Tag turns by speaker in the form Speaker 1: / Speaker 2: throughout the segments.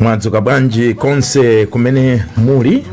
Speaker 1: mwadzuka bwanji konse kumene muli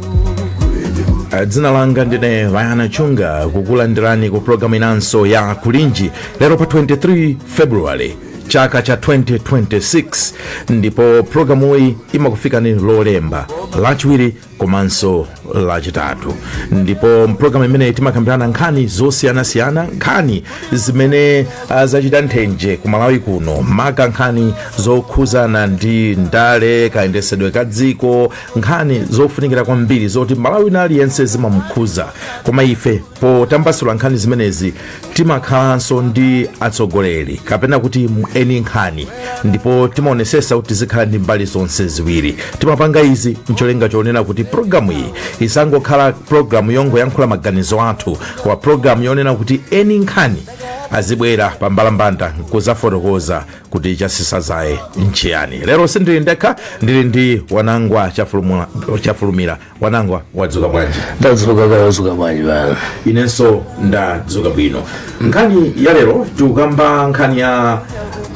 Speaker 1: Ah, dzina langa ndine vayana chunga kukulandirani ku programu inanso ya kulinji lero pa 23 february chaka cha 2026 ndipo programu iyi imakufikani lolemba lachiwiri komanso lachitatu ndipo mpulogalamu imeneyi timakambirana nkhani zosiyanasiyana nkhani zimene ah, zachita nthenje ku malawi kuno maka nkhani zokhuzana ndi ndale kayendesedwe ka dziko nkhani zofunikira kwambiri zoti mmalawi wina aliyense zimamukhuza koma ife potambasula nkhani zimenezi timakhalanso ndi atsogoleri kapena kuti eni nkhani ndipo timaonesesa kuti tizikhala ndi mbali zonse ziwiri timapanga izi ncholinga chonena kuti programu iyi isangokhala programu yongoyankhula maganizo athu koma programu yonena kuti eni nkhani azibwera pa mbalambanda nkuzafotokoza kuti chasisa zaye nchiyani lero sindili ndekha ndili ndi wanangwa chafulumira wanangwa wadzuka bwanji ndadzuka kaya
Speaker 2: wadzuka bwanji vayana
Speaker 1: inenso ndadzuka bwino nkhani ya lero tikukamba nkhani ya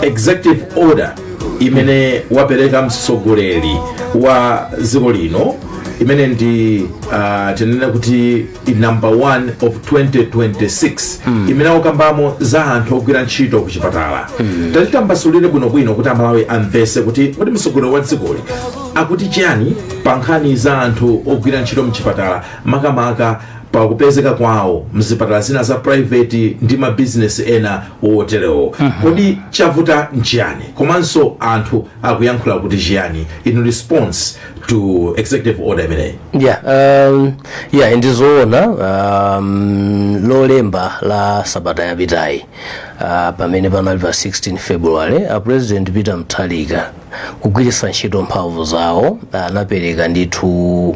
Speaker 1: executive order imene wapereka mtsogoleri wa dziko lino imene ndi uh, tinene kuti number 1 of 2026 imene akukambamo za anthu ogwira ntchito ku chipatala tatitambasulire bwinobwino kuti amalawi amvese kuti kodi mtsogoleri wa dzikoli akuti chiyani pa nkhani za anthu ogwira ntchito mchipatala makamaka pa kupezeka kwawo mzipatala zina za private ndi mabizinesi ena oterewo kodi chavuta nchiyani komanso anthu akuyankhula kuti chiyani in response to executive order imeneyi yeah um,
Speaker 2: yeah ndizoona um, lolemba la sabata yapitayi uh, pamene panali pa 16 february a president peter mutharika kugwiritsa ntchito mphamvu zawo anapereka ndithu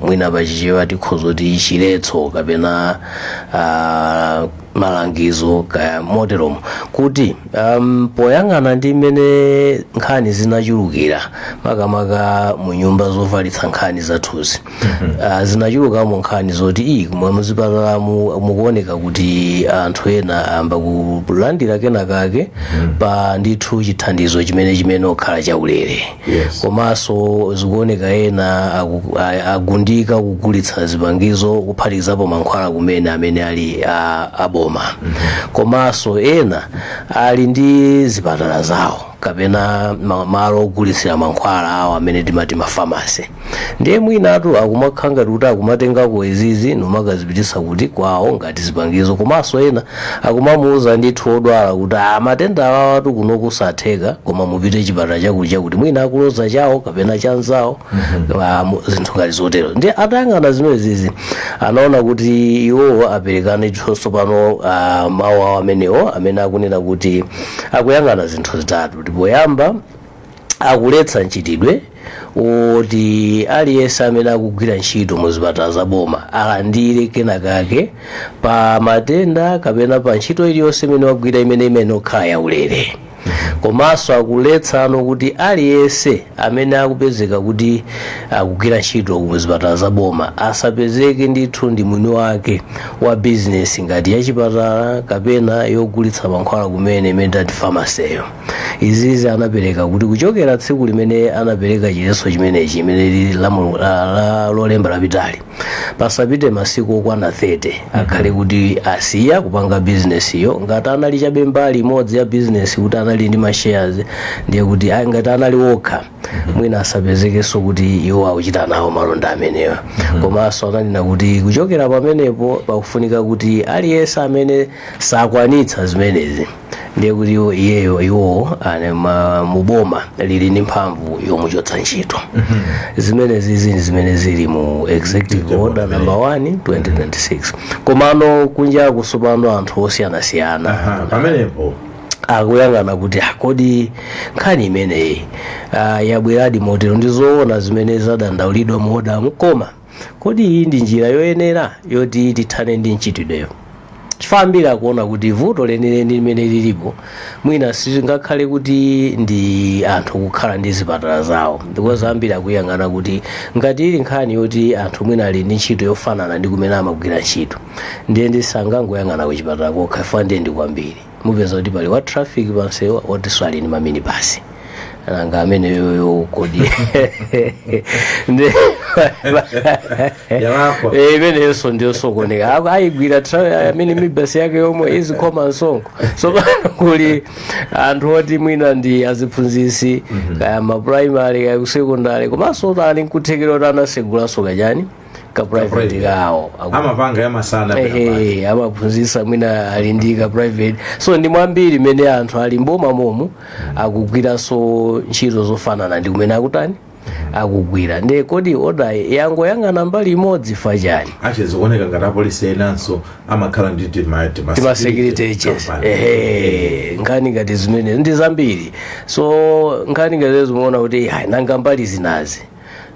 Speaker 2: mwina pachichewa tikhoza kuti chiletso kapena uh, malangizo kaya moteromo kuti um, poyang'ana ndi mmene nkhani zinachulukira makamaka mu nyumba zofalitsa nkhani zathuzi uh, zinachulukamo nkhani zoti ayi umu muzipatalamu mukuoneka kuti anthu ena ayamba kulandira kenakake pa ndithu chithandizo chimene chimene okhala chaulere Yes. komanso zikuoneka ena aku- a- agundika kugulitsa zipangizo kuphatikizapo mankhwala kumene amene ali a- aboma komanso ena ali ndi zipatala zawo kapena ma- malo ogulitsira mankhwala awo amene timati mafamasi ndiye mwinatu akumakhala ngati kuti akumatengako izizi n'kumakazipititsa kuti kwawo ngati zipangizo komanso ena akumamuuza ndithu odwala kuti matenda awawatu kuno kusatheka koma mupite chipatala chakuti chakuti mwina akuloza chawo kapena chanzawo ah, mu- zinthu ngati zotero ndiye atayang'ana zimenezi anaona kuti iwo apereka ndiye tsopano ah, mawu awo amenewo amene akunena kuti akuyang'ana zinthu zitatu ndi poyamba akuletsa mchitidwe woti aliyense amene akugwira ntchito mu zipatala za boma alandire kenakake pa matenda kapena pa ntchito iliyonse imene wagwira imene imene okhala yaulere komanso akuletsano kuti aliyense amene akupezeka kuti akugwira ntchito mu zipatala za boma asapezeke ndithu ndi mwini wake wa bizinesi ngati yachipatala kapena yogulitsa mankhwala kumene imene timati famaseyo izizi anapereka kuti kuchokera tsiku limene anapereka chiletso chimenechi chimene lili la Lolemba lapitali pasapite masiku okwana 30 akhale kuti asiya kupanga bizinesiyo ngati anali chabe mbali imodzi ya bizinesi kuti anali ndi mashares ndiye kuti ah, ngati anali okha mwina asapezekenso kuti iwo akuchita nawo malonda amenewa komanso ananena kuti kuchokera pamenepo pakufunika kuti aliyense amene sakwanitsa zimenezi ndiye kuti iwo- iyeyo iwowo ali ma- mu boma lili ndi mphamvu yomuchotsa ntchito zimenezizi ndi zimene zili mu executive order number 1 2026 komano kunjaku tsopano anthu osiyanasiyana Aha,
Speaker 1: pamenepo
Speaker 2: akuyang'ana kuti "Ah, kodi nkhani imeneyi ah, yabweradi motero ndi zoona zimene zadandaulidwa mu order-mu koma kodi iyi ndi njira yoyenera yoti tithane ndi mchitidwewo chifukwa ambiri akuona kuti vuto lenileni limene lilipo mwina silingakhale kuti ndi anthu kukhala ndi zipatala zawo because ambiri akuyang'ana kuti ngati ili nkhani yoti anthu mwina ali ndi ntchito yofanana ndi kumene amagwira ntchito ndiye tisangoyang'ana kuchipatala kokha chifukwa ndiye ndi kwambiri mupeza kuti pali wa traffic pamsewu wotinso ali ndi maminibasi nanga ameneyoyo kodi Ndi- Yawako. Eh, imeneyonso ndiyosokoneka Ako- ayigwira tra- maminibasi yake yomwe izikhoma msonkho tsopano kuli anthu oti mwina ndi aziphunzitsi kaya maprimary kaya kusekondari komanso kuti ali nkuthekera kuti anatsegulanso kachani ka private kawo Aku- amapanga
Speaker 1: yamasana Ehe,
Speaker 2: amaphunzitsa mwina ali ndi ka private so ndi mwambiri mmene anthu ali m'bomamomu akugwiranso ntchito zofanana ndi kumene akutani akugwira nde kodi order yangoyang'ana mbali imodzi chifukwa chani achizikuoneka
Speaker 1: ngati apolisi enanso amakhala ndi tima- tima-
Speaker 2: timasecurity agents company. ehe nkhani ngati zimenezi ndi zambiri so nkhani ngati izi timaona kuti "Ai, nanga mbali zinazi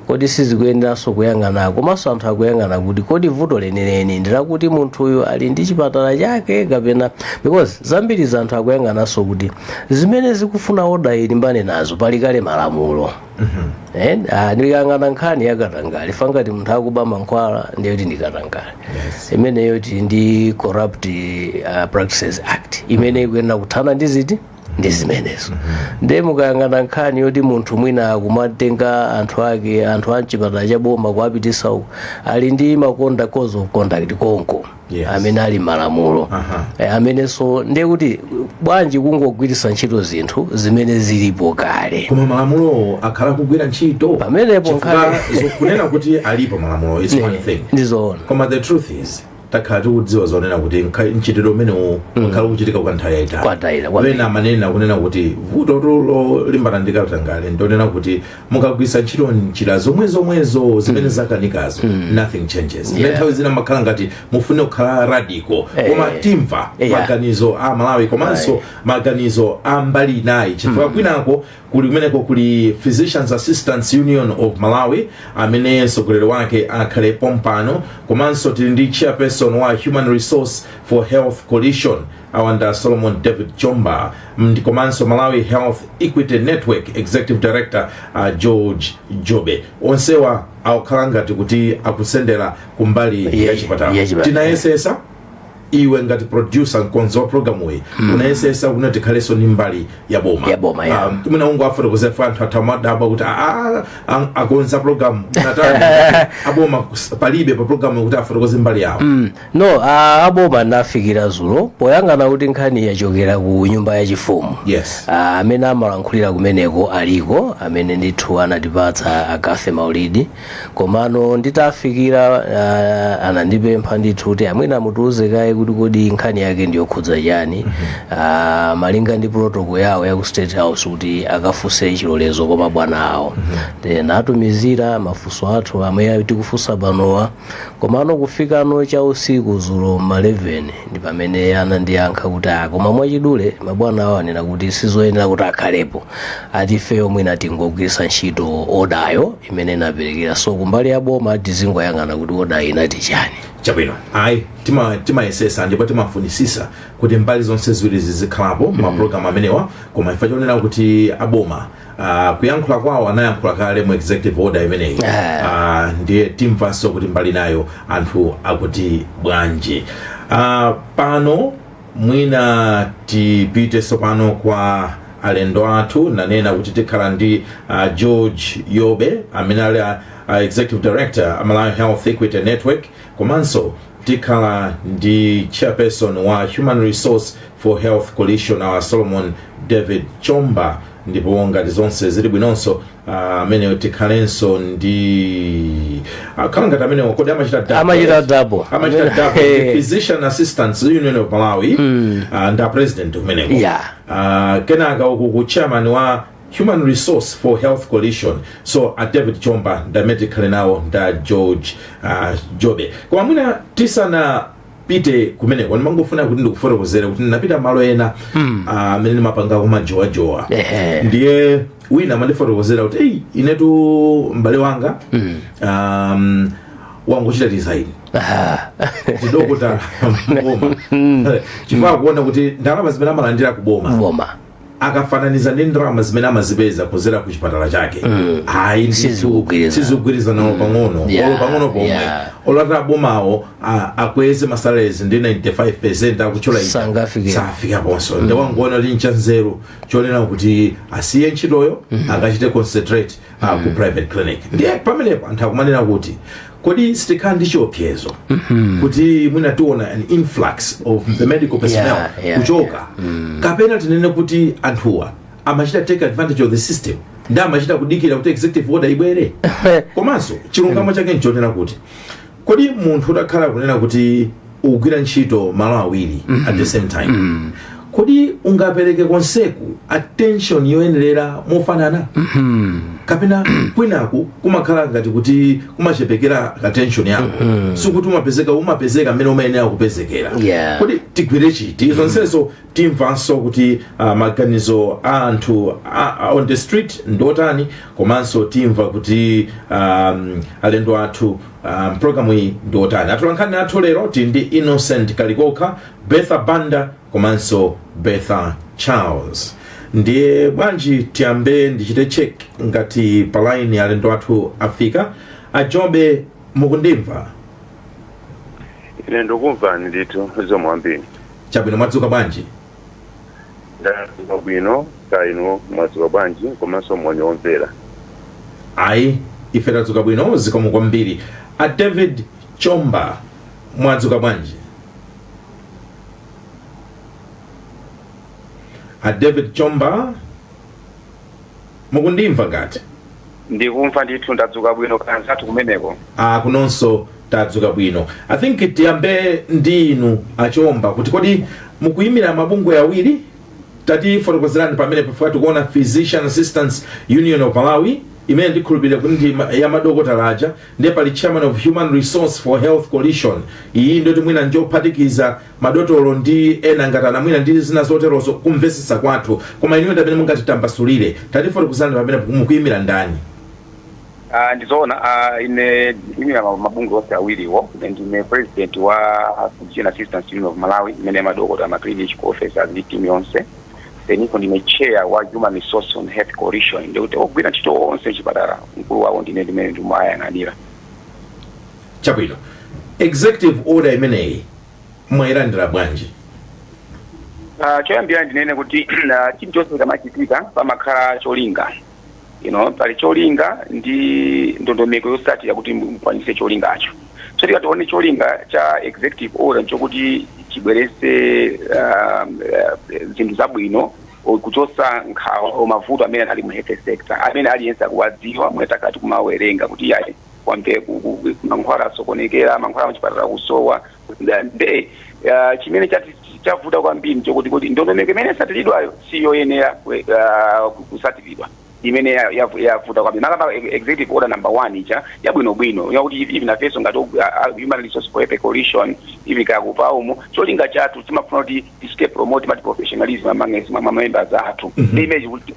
Speaker 2: kodi sizikuyeneranso kuyang'ana komanso anthu akuyang'ana kuti kodi vuto lenileni ndilakuti munthuyu ali ndi chipatala chake kapena because ambiri mwa anthu akuyang'ananso kuti zimene zikufuna odayi ilimbane nazo pali kale malamulo Eh, ah, ndikayang'ana nkhani yakatangale ya ngati munthu akuba mankhwala ndiye kuti ndi katangale imeneyo tili ndi corrupt ah, practices act imene ikuyenera kuthana ndi ziti ndi zimenezo ndiye mukayang'ana nkhani yoti munthu mwina akumatenga anthu ake anthu a mchipatala cha boma kuwapitisa uku ali ndi ma code of conduct konko Yes. amene ali malamulo Aha. Eh, amenenso ndiye kuti bwanji kungogwiritsa ntchito zinthu zimene zilipo kale koma
Speaker 1: malamulowo akhala akugwira ntchito Pamenepo Chifukwa nkhani-
Speaker 2: zo- kunena kuti
Speaker 1: alipo malamulo its one thing ndizoona koma the
Speaker 2: truth is
Speaker 1: takhala tikudziwa zonena kuti nkha- mchitidwe umenewu wakhala ukuchitika kwa nthawi yayitali Kwa nthawi yayitali. wina amanena kunena kuti vutotu lolimbana ndi katangale ndonena kuti mukagwiritsa ntchito njira zomwe zomwezo zimene zakanikazo nothing changes Ndi Yeah. nthawi zina makhala ngati mufune kukhala radical Eh. koma timva Yeah. maganizo a Amalawi komanso Aye. maganizo a mbali inayi chifukwa kwinako kuli kumeneko kuli physicians assistants union of malawi amene mtsogoleri wake akhale pompanoyu komanso tili ndi chairperson wa human resources for health coalition awa ndi a solomon david chomba mm, komanso malawi health equity network executive director uh, george jobe onsewa akukhala ngati kuti akusendera kumbali ya chipatala yachipatala. tinayesetsa iwe ngati producer mkonzi wa programu iyi unayesetsa kuti tikhalenso ndi mbali ya boma Ya boma, ya. Ah, mwina ungowafotokozera ife anthu athu asamadabwe kuti "Ah, ah, akonza programu yotani aboma kus- palibe pa programu kuti afotokoze mbali yawo no
Speaker 2: a- aboma ndinawafikira dzulo poyang'ana kuti nkhani yachokera ku nyumba yachifumu Yes. Ah, amene amalankhulira kumeneko aliko amene ndithu anatipatsa a Cathy Maulidi komano nditawafikira uh, anandipempha ndithu kuti amwene mutiuze kaye kuti kodi nkhani yake ndiyokhudza chani uh, malinga ndi protocol yawo ya ku state house kuti akafunse chilolezo kwa mabwana awo ndinawatumizira mafunso athu amene tikufunsa panowa komano kufikano cha usiku dzulo ma 11 ndi pamene anandiyankha kuti ah, koma mwachidule mabwana awo anena kuti sizoyenera kuti akhalepo ati ifeyo mwina tingogwiritsa ntchito odayo imene inaperekedwa so kumbali ya boma tizingoyang'ana kuti oda inati chani chabwino
Speaker 1: ayi tima- timayesetsa ndipo timafunitsitsa kuti mbali zonse ziwiri zizikhalapo m'maprogramu amenewa koma imvani chonena kuti aboma ah, kuyankhula kwawo anayankhula kale mu executive order imeneyi Eh. Ah, ndiye timvanso kuti mbali inayo anthu akuti bwanji Ah, pano Mwina tipite tsopano kwa alendo athu. Nanena kuti tikhala ndi uh, George Jobe amene ali a, a executive director a Malawi Health Equity Network komanso tikhala ndi chairperson wa Human Resource for Health Coalition a Solomon David Chomba ndipo ngati zonse zili bwinonso ah, amene tikhalenso ndi akhala ngati ameneyo kodi amachita double? Amachita double. amachita double ndi physician assistants union of malawi ah, ndi a president kumeneko Yeah. Ah, kenaka uku ku chairman wa human resource for health coalition so a david chomba ndi amene tikhale nawo ndi a george ah, jobe koma mwina tisana pite kumeneko ndimangofuna kuti ndikufotokozere kuti ndinapita malo ena ah, amene ndimapanga ko majowajowa Ehe. ndiye wina amandifotokozera kuti eyi inetu m'bale wanga um, wangochita resign ndi dokotala m'boma chifukwa akuona kuti ndalama zimene amalandira kuboma akafananiza ndi ndalama zimene amazipeza kuzera ku chipatala chake ayi ndithu Sizikugwirizana. sizikugwirizana olo pang'ono Yeah, olo pang'ono pomwe yeah. olo ati abomawo a- akweze masalezi ndi 95 percent akutchula ija, Sangafike. safika ponso ndiye wangoona kuti nchanzeru chonena kuti asiye ntchitoyo akachite concentrate uh, ku mm. private clinic ndiye pamenepo anthu akumanena kuti kodi sitikhala ndi chiopsezo mm-hmm. kuti mwina tiona an influx of the medical personnel yeah, yeah, kuchoka yeah. Mm. kapena tinene kuti anthuwa amachita take advantage of the system ndiye amachita kudikira kuti executive order ibwere komanso chilungamo chake nchonena kuti kodi munthu utakhala kunena kuti ukugwira ntchito malo awiri at the same time kodi ungapereke konseku attention yoyenerera mofanana kapena kwinaku kumakhala ngati kuti kumachepekera attention yako sikuti umapezeka mmene umayenera kupezekera Yeah. kodi tigwire chiti zonsezo timvanso kuti uh, maganizo a anthu a- a- on the street ndiotani komanso timva kuti um, alendo athu mu programu iyi ndiotani atolankhani athu lero tili ndi innocent kalikoka betha banda komanso betha charles ndiye bwanji tiyambe ndichite check ngati palaini alendo athu afika ajobe mukundimva
Speaker 3: Ine ndukumvani ndithu zikomo kwambiri. Chabwino,
Speaker 1: mwadzuka
Speaker 3: bwanji? Ndadzuka bwino, kaya inu mwadzuka bwanji komanso moni kwa omvera? Ayi,
Speaker 1: ife tadzuka bwino zikomo kwambiri. A David Chomba, mwadzuka bwanji? A David Chomba? Mukundimva ngati?
Speaker 3: Ndikumva ndithu, ndadzuka bwino kaya anzathu kumeneko? Aaa
Speaker 1: kunonso tadzuka bwino. I think tiyambe ndi inu a Chomba kuti kodi mukuyimira mabungwe awiri? Tatifotokozerani pamenepa chifukwa tikuona Physician Assistants Union of Malawi imene ndikhulupirira kuti ndi ma- ya madokotala aja ndiye pali Chairman of Human Resource for Health Coalition iyi ndiyoti mwina njophatikiza madotolo ndi ena ngati anamwino ndi zina zoterozo kumvetsetsa kwathu koma inuyo ndi amene mungatitambasulire tatifotokozani pamenepo mukuyimira ndani Ah,
Speaker 3: ndizoona ah, ine ndikuyimira ma- mabungwe onse awiriwo Ine ndine president wa Physician Assistants Union of Malawi imene madokotala ma clinical officers ndi team yonse then ndine chair wa Human Resource for Health Coalition ndikuti ogwira ntchito onse chipatala mkulu wawo ndine ndimene ndimayang'anira
Speaker 1: chabwino executive order imeneyi mwailandira bwanji Ah,
Speaker 3: choyambira ndinene kuti ah, chinthu chilichonse chikamachitika pamakhala cholinga you know, pali cholinga ndi ndondomeko yosatira kuti mukwanise cholingacho so tikatione cholinga cha executive order nchokuti chibwerese um, eh, zinthu zabwino o- kuchotsa nkhawa o mavuto amene ali mu health sector amene aliyense akuwadziwa mwakhala mukumawerenga kuti yayi kwambe ku- ku- ku- mankhwala asokonekera mankhwala muchipatala kusowa Nda- nde ah, chimene chati- chavuta kwambiri nchokuti kuti ndondomeko imene yasatilidwayo si yoyenera kwe- ah, ku- kusatilidwa imene ya- ya- yavuta kwambiri tikakamba executive order number one ija yabwinobwino yakuti even ifenso ngati u- ah, ah, human resource for health coalition even kakupa umo cholinga chathu timafuna kuti tisike promote mati professionalism among us, ma- ma members athu ndi image kuti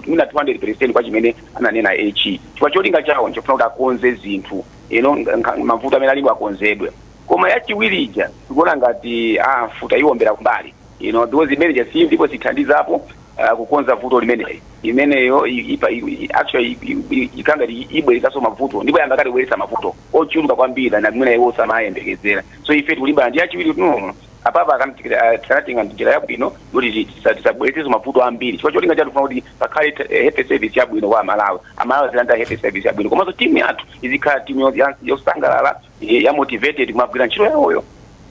Speaker 3: mwina 200 percent kwa chimene ananena HE chifukwa cholinga chawo nchofuna kuti akonze zinthu you know, nga- nga- mavuto amene alipo akonzedwe koma yachiwiri ija tikuona ngati ah, mfuti yawombera kumbali you know, because imene ija si ndipo siithandizapo uh, kukonza vuto limeneli imeneyo i- ipa- i- i- actually i- i- i- ikanga li- ibweretsanso mavuto ndipo yayamba kale kubweretsa mavuto ochuluka kwambiri na mwina iwo samayembekezera so ife tikulimbana ndi yachiwiri kuti no apapa akanatenga njira yabwino kuti tisabweretsenso mavuto ambiri chifukwa cholinga chathu kufuna kuti pakhale health service yabwino kwa amalawi amalawi azilandira health service yabwino komanso timu yathu izikhala timu yo- ya- yosangalala eh, ya motivated kumagwira ntchito yawoyo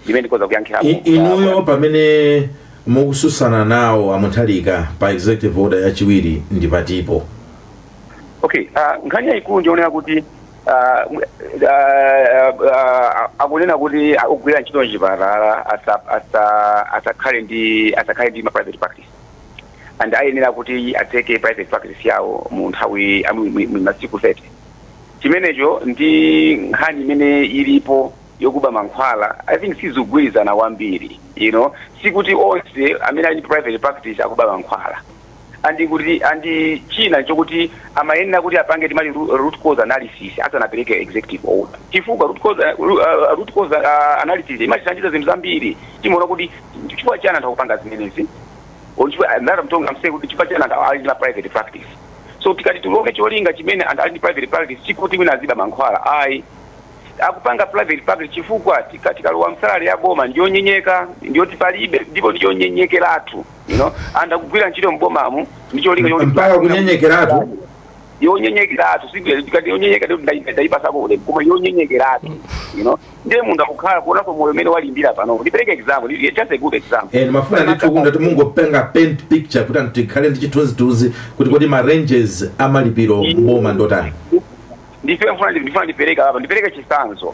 Speaker 3: imene ndikoza kuyankhirapo I- inuyo
Speaker 1: pamene mukususana nawo a Mutharika pa executive order yachiwiri ndi
Speaker 3: patipo okay uh, nkhani yayikulu ndiyonena kuti ah, mwe- ah, ah, akunena kuti ogwira ntchito mchipatala asa- asa- asakhale ndi asakhale ndi ma private practice and ayenera kuti atseke private practice yawo mu nthawi ah, mu- mu- mu masiku 30 chimenecho ndi nkhani imene ilipo yokuba mankhwala i think sizigwirizana kwambiri you know sikuti onse amene ali ndi private practice akuba mankhwala andi kuti andi china chokuti amayenera kuti apange timati ru- root cause analysis asanapereke executive order chifukwa root cause, uh, ru- uh, root cause uh, analysis imachitachita zinthu zambiri timaona kuti chifukwa chani anthu akupanga zimenezi or chifukwa eh, I'm saying kuti chifukwa chani anthu ali ndi ma private practice so tikati tione cholinga chimene anthu ali ndi private practice sikuti wina aziba mankhwala ayi akupanga private practice chifukwa tika- tikalowa msalale ya boma ndiyonyenyeka ndiyoti palibe ndipo ndiyonyenyekeratu you know and akugwira ntchito m'bomamu ndi cholinga choti- mpaka kunyenyekeratu yonyenyekeratu tikati yonyenyeka ndi kuti ndayipasako ulemu koma yonyenyekeratu you know ndiye munthu akukhala kuonaso moyo umene walimbira pano ndipereke example ndi- just a good example and mafuna ndithu kuti mutati
Speaker 1: mungopanga paint picture kuti anthu tikhale ndi chithunzithunzi kuti kodi ma ranges amalipiro mboma ndotani ndi mfuna
Speaker 3: ndifuna ndipereka apa ndipereke chitsanzo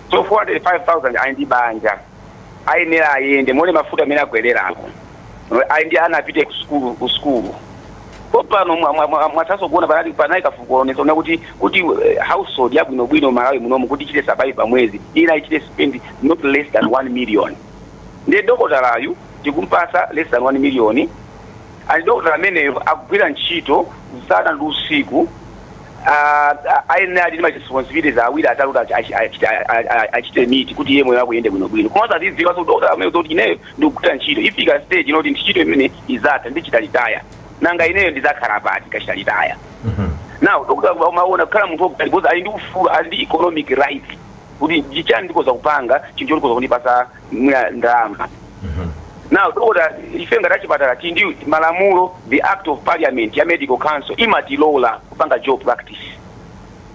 Speaker 3: so 405,000 ali ndi banja ayenera ayende muone mafuta amene akwererako ali ndi ana apite ku sukulu ku sukulu pompano mwathaso kuona panali panali kafukufuku una kuti kuti eh, household yabwinobwino malawi munomu kuti ichite survive pa mwezi iyenera ichite spend not less than 1 million ndiye dokotalayu tikumpasa less than 1 million And dokotala ameneyo akugwira ntchito usana ndi usiku, ayenera ali ndi ma responsibilities ambiri oti achite meet kuti iye moyo wake uyende bwino bwino. Komanso azidziwaso dokotala ameneyo zoti ineyo ndikugwira ntchito ifika stage ina kuti ntchito imene izatha ndichite retire. Nanga ineyo ndizakhala pati ndikachita retire? Now dokotala amaona kukhala munthu woti because ali ndi ufulu, ali ndi economic right kuti ndichani ndikoza kupanga chinthu choti chikoza kundipasa ndalama now dokota ife ngati achipatala tili ndi malamulo the act of parliament ya medical council imatilola kupanga dual practice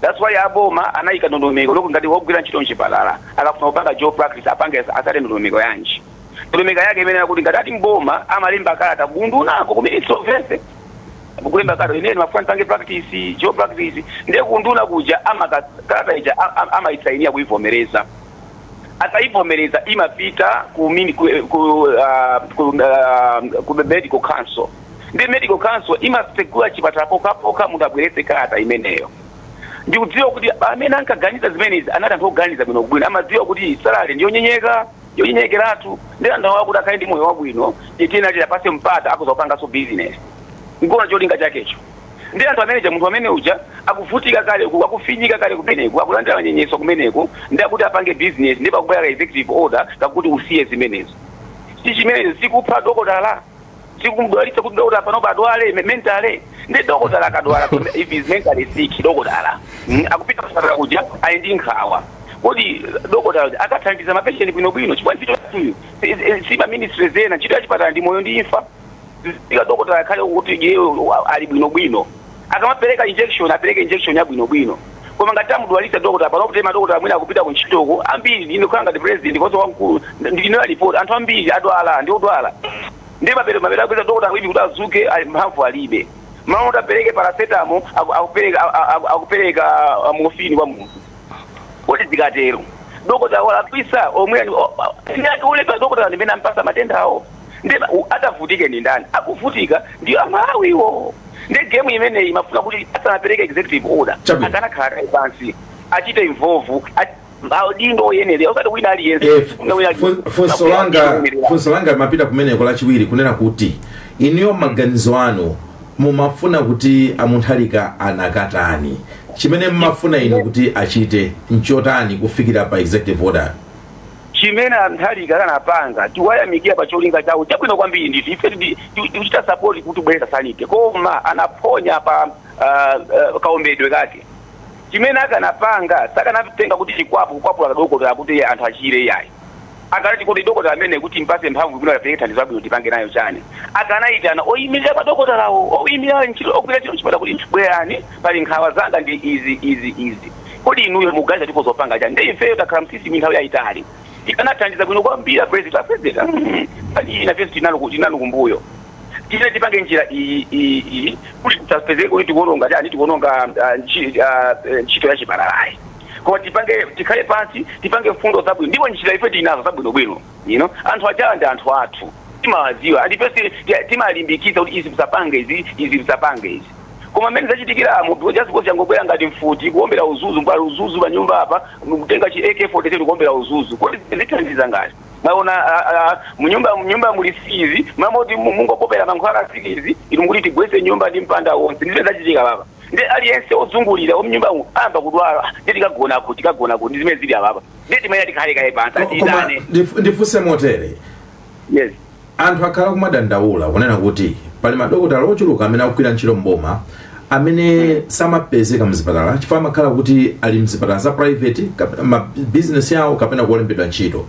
Speaker 3: that's why aboma anayika ndondomeko yoti ngati wogwira ntchito mchipatala akafuna kupanga dual practice apange asate ndondomeko yanji ndondomeko yake inali yakuti ngati ali mboma amalemba kalata kundunako kumene Ministry of Health kulemba kalata inene mafuna ndipange practice dual practice ndiye kunduna kuja amaka kalata ija a- a- amayisainiya kuyivomereza ataivomereza imapita ku, mini- ku, ku, ah, ku, ah, ku medical council ndi medical council imatsegula chipatala pokhapokha munthu abweretse kalata imeneyo ndikudziwa kuti amene ankaganiza zimenezi anali anthu oganiza bwino bwino amadziwa kuti salale ndiyonyenyeka yonyenyekeratu ndi anthu awa kuti akhale ndi moyo wabwino tiyenera tiwapase mpata akoza kupanganso business nkuona cholinga chakecho Ndi anthu amene aja, munthu amene uja akuvutika kale uku, akufinyika kale kumeneko, akulandira manyenyeswa kumeneko, ndiye akuti apange bizinesi, ndiye pakubwera ka executive order kakuti usiye zimenezo. Si chimenecho sikupha dokotala? Si kumdwalitsa kuti dokotala panopa adwale me- mentally? Ndiye dokotala akadwala kuti if is mentally sick, dokotala mm, akupita kuchipatala kuja ali ndi nkhawa kodi dokotala uja akathandiza mapatient bwinobwino chifukwa ntchito yathuyu si- si- si za ministry zena ntchito ya chipatala ndi moyo ndi imfa ika dokotala akhale kuti iye wa- ali bwinobwino akamapereka injection apereke injection ya bwinobwino koma ngati amudwalitsa dokotala pano kuti madokotala amene akupita kuntchitoko ambiri ine kukhala ngati president komanso wamkulu ndili ndi report anthu ambiri adwala ndi odwala ndiye mapere mapere akupeza dokotala kuti kuti adzuke ali mphamvu alibe mmalo moti apereke paracetamol aku- akupereka a- a- a- akupereka ah, morphine kwa munthu kodi zikatero dokotala walakwitsa omwe uli pa dokotala ndi amene ampatsa matenda awo nde ba- u- adzavutike ndi ndani akuvutika ndi amalawiwo nde game imeneyi imafuna kuti asanapereke executive order Chabwino. akanakhala kaye pansi atichite involve at- maudindo oyenera osati wina aliyense Eh, fu- Wina aliyense. fu- funso langa
Speaker 1: Akuyenera. funso langa limapita kumeneko lachiwiri kunena kuti inuyo maganizo anu mumafuna kuti a Mutharika anakatani chimene mumafuna inu kuti achite nchotani kufikira pa executive order
Speaker 3: Chimene a Mutharika akanapanga tikuwayamikira pa cholinga chawo chabwino kwambiri ndithu. Ife ti- tikuchita support kuti kubweretsa sanity koma anaphonya pa kaombedwe kake. Chimene akanapanga sakanatenga kuti chikwapu kukwapula kadokotala kuti anthu achire iyayi. Akanati kodi dokotala ameneyi kuti timpatse mphamvu kuti akapereke thandizo labwino tipange nayo chani? Akanaitana oyimirira madokotalawo, oyimirira ntchito, ogwira ntchito kuchipatala kuti bwerani. Pali nkhawa zanga ndi izi, izi, izi. Kodi inuyo mukuganiza tikhoza kupanga chani? Nde ifeyo takhala m'system nthawi yayitali. Tikanathandiza bwino kwambiri a president. A president, mm, nkhani iyi nafenso tili nanu, tili nanu kumbuyo. Tiyeni tipange njira iyi, iyi, iyi kuti tisapezeke kuti tikuononga chani, tikuononga ah, nchi- ah, eh, ntchito ya chipatalayi. Koma tipange tikhale pansi, tipange mfundo zabwino. Ndipo njira ife tili nazo zabwino bwino. You know, anthu ajawa ndi anthu athu. Timawadziwa. Ndi ifenso timalimbikitsa kuti izi musapange izi, izi musapange izi. Koma mmene zachitikiramu just because changobwera ngati mfuti kuombera udzudzu pali udzudzu pa nyumba apa kutenga chi AK47 kuombera udzudzu kodi zithandiza ngati mwaona a- a- a- munyumba munyumba muli nsikidzi mmalo moti mu- mungopopera mankhwala a nsikidzi inu mukuti tigwese nyumba ndi mpanda wonse ndi zimene zachitika apapa nde aliyense ozungulira a mnyumba umu ayamba kudwala nde tikagona kuti tikagona kuti ndi zimene zili apapa nde timanena tikhale kaye pansi Ko- koma atiyitane ndif- ndifunse motere yes Anthu akhala
Speaker 1: kumadandaula kunena kuti pali madokotala ochuluka amene akugwira ntchito mboma amene samapezeka mzipatala chifukwa amakhala kuti ali mzipatala za private kap- ma business yawo kapena kuolembedwa ntchito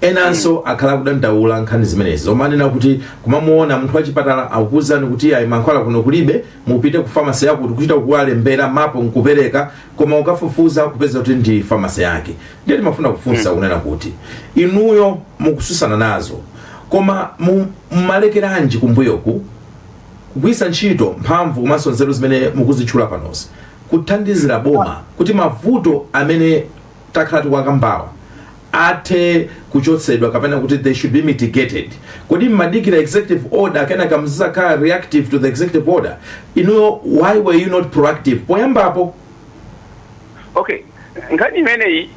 Speaker 1: enanso akhala kudandaula nkhani zimenezi zomwe anena kuti kumamuona munthu wachipatala akukuuzani kuti ayi mankhwala kuno kulibe mupite ku famasi yakuti kuchita kuwalembera mapo nkupereka koma ukafufuza kupeza kuti ndi famasi yake ndiye timafuna kufunsa kunena kuti inuyo mukutsutsana nazo koma mu- mumalekeranji kumbuyoku kugwiritsa ntchito mphamvu komanso nzeru zimene mukuzitchula panozi kuthandizira boma kuti mavuto amene takhala tikuwakambawa athe kuchotsedwa kapena kuti they should be mitigated kodi mmadikira executive order kenaka mzizakhala reactive to the executive order inuyo why were you not proactive poyambapo
Speaker 3: okay nkhani imeneyi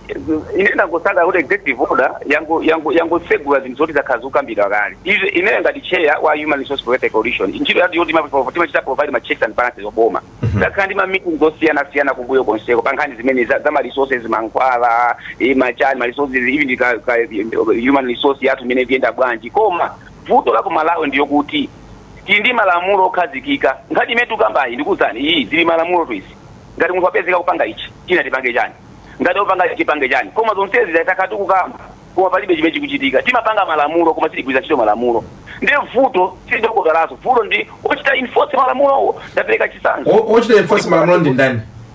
Speaker 3: ine ndangosangalala kuti executive order yango- yango- yangotsegula zinthu zoti zakhala zikukambidwa kale Izi- ineyo ngati chair wa human resource protection coalition ntchito yathu yoti ma- timachita provide ma checks and balances oboma takhala ndi ma meeting osiyanasiyana kumbuyo konseko pa nkhani zimene za za ma resources mankhwala eh, machani ma resources even ndi ka- ka- human resource yathu imene ikuyenda bwanji koma vuto la ku malawi ndi loti tili ndi malamulo okhazikika nkhani imene tukambayi ndikuwuzani iyi zili mmalamulotu izi ngati munthu wapezeka kupanga ichi china tipange chani ngati akupanga ichi tipange chani koma zonsezi takhala tikukamba koma palibe chimene chikuchitika timapanga malamulo koma sitigwiritsa ntchito malamulo ndiye vuto si la dokotalayo vuto ndi ochita enforce malamulowo ndapereka chitsanzo O- ochita enforce malamulo
Speaker 1: ndi ndani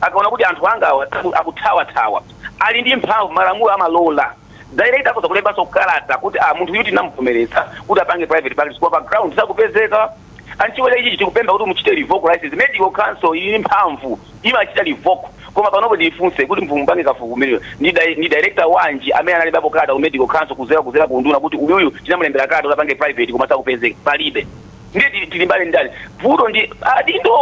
Speaker 3: Akaona kuti anthu angawa akuthawathawa, ali ndi mphamvu, malamulo amalola, director akhoza kulembanso kalata kuti ah munthu uyu tinamuvomereza kuti apange private practice koma pa ground sakupezeka and chifukwa cha ichichi tikupempha kuti muchite revoke license. Medical council ili ndi mphamvu, imachita revoke. Koma panopo ndifunse kuti mupange kafukufuku umenewu, ndi di ndi director wanji amene analembapo kalata ku medical council kuzera kuzera ku unduna kuti uyuyu tinamulembera kalata kuti apange private koma sakupezeka? Palibe. ndiye tili- tilimbane ndani vuto ndi adindo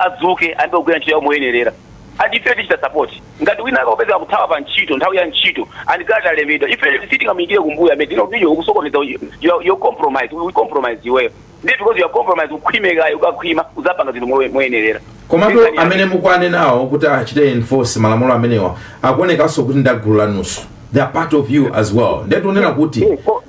Speaker 3: adzuke ayambe kugwira ntchito yawo moyenerera and ife tichita support ngati wina akapezeka kuthawa pa ntchito nthawi ya ntchito and ngati alembedwa ife sitingamuyikire kumbuyo amene tinobiyo kusokoneza you- you- you compromise we compromise iweyo ndiye because you are compromise ukhwimekayo ukakhwima uzapanga zinthu moye- moyenerera komatu Ndizani yake.
Speaker 1: amene mukuwanenawo kuti achite enforce malamulo amenewa akuonekanso kuti ndi agulu lanunso they are part of you as well nde tionera kuti Eh, ko-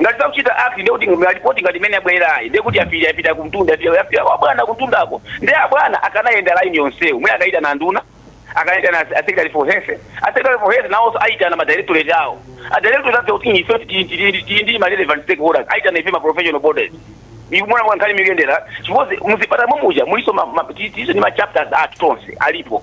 Speaker 3: Ngati sakuchita act ndiye kuti ma report ngati imene yabwelerayi ndiye kuti yapita yapita kumtunda yapita yapita kwa bwana kumtundako ndiye abwana akanayenda line yonseyo mwina akayitana anduna akayitana a secretary for health a secretary for health nawonso ayitana ma directorate awo a directorate adziwa kuti ife tili- tili tili ndi ma relevant stakeholders ayitana ife ma professional bodies ikumona kwa nkhani mikuyendera chifukwa muzipatala mumuja mulinso ma- ma- ti- tilinso ndi ma chapters athu tonse alipo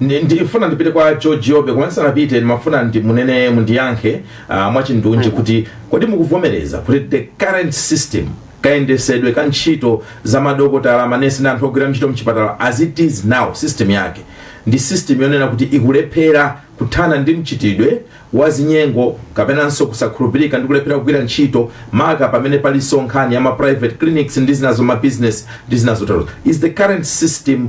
Speaker 1: Ndi- ndifuna ndipite kwa george jobe koma ndisanapite ndimafuna kuti munene mundiyankhe uh, mwachindunji kuti kodi mukuvomereza kuti the current system kayendesedwe ka ntchito za madokotala manesi ndi anthu ogwira ntchito mchipatala as it is now system yake ndi system yonena kuti ikulephera kuthana ndi mchitidwe wa zinyengo kapenanso kusakhulupirika ndi kulephera kugwira ntchito maka pamene palinso nkhani ya ma private clinics ndi zinazo ma business ndi zinazo tero is the current system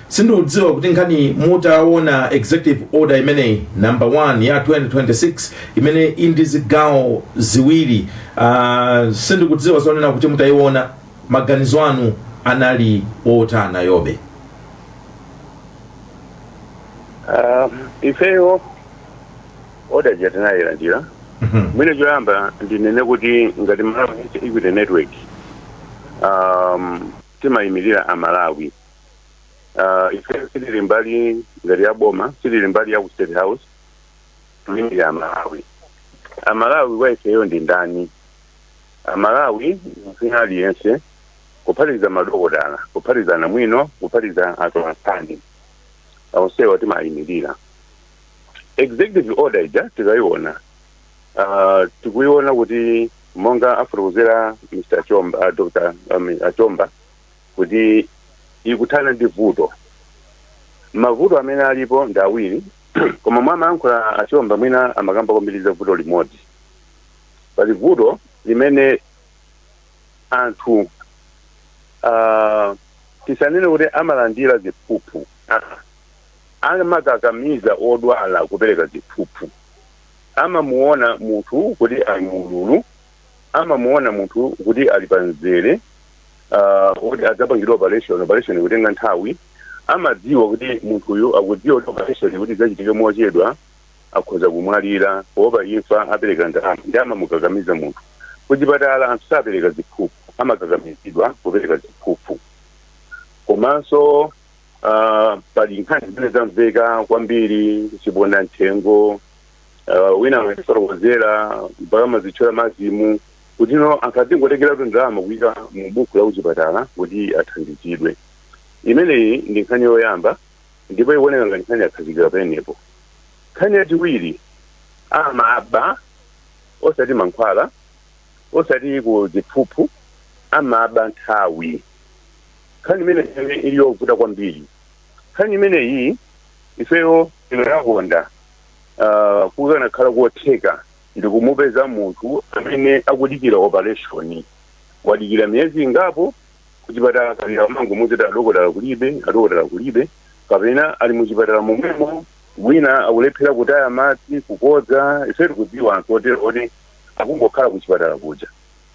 Speaker 1: Sindikudziwa kuti nkhani mutawona executive order imeneyi number 1 ya 2026 imene ili ndi zigawo ziwiri uh, sindikudziwa zonena kuti mutayiona maganizo anu anali otani jobe
Speaker 4: uh, ifeyo order ija tinayilandira mwina choyamba ndinene kuti ngati malawi equity network um, timayimirira amalawi uh, ife sitili mbali ngati ya boma sitili mbali ya ku state house tiyimirira amalawi amalawi wa ifeyo ndi ndani amalawi ndi wina aliyense kuphatikiza madokotala kuphatikiza anamwino kuphatikiza atolankhani onsewa timayimirira executive order ija tikayiona uh, tikuyiona kuti monga afotokozera achomba uh, dr um, uh, chomba kuti ikuthana ndi vuto mavuto amene alipo ndi awiri koma mmene amayankhula achomba mwina amakamba kwambiri za vuto limodzi pali vuto limene anthu uh, tisanene kuti amalandira ziphuphu Ah, amakakamiza odwala kupereka ziphuphu amamuona munthu kuti ali mu ululu amamuona munthu kuti ali pa mzere uh, oti adzapangidwa operation operation kutenga nthawi amadziwa kuti munthuyu akudziwa kuti operation kuti idzachitike mochedwa akhoza kumwalira poopa imfa apereka ndalama ndi amamukakamiza munthu kuchipatala anthu sapereka ziphuphu amakakamizidwa kupereka ziphuphu komanso uh, pali nkhani zimene zamveka kwambiri chiponda mthengo uh, wina anatifotokozera mpaka amazitchula mazimu kuti no anthu akazingotengeratu ndalama kuyika mu buku la kuchipatala kuti athandizidwe imeneyi ndi nkhani yoyamba ndipo ikuoneka ngati nkhani yakhazikika penepo nkhani yachiwiri amaba osati mankhwala osati ku ziphuphu amaba nthawi nkhani imeneyi ili yovuta kwambiri nkhani imeneyi ifeyo ino yakonda ah, kukanakhala kotheka ndikumupeza munthu amene akudikira operation wadikira miyezi ingapo kuchipatala kapita amangomuuza kuti adokotala kulibe adokotala kulibe kapena ali muchipatala momwemo wina akulephera kutaya madzi kukodza ife tikudziwa anthu otero oti akungokhala kuchipatala kuja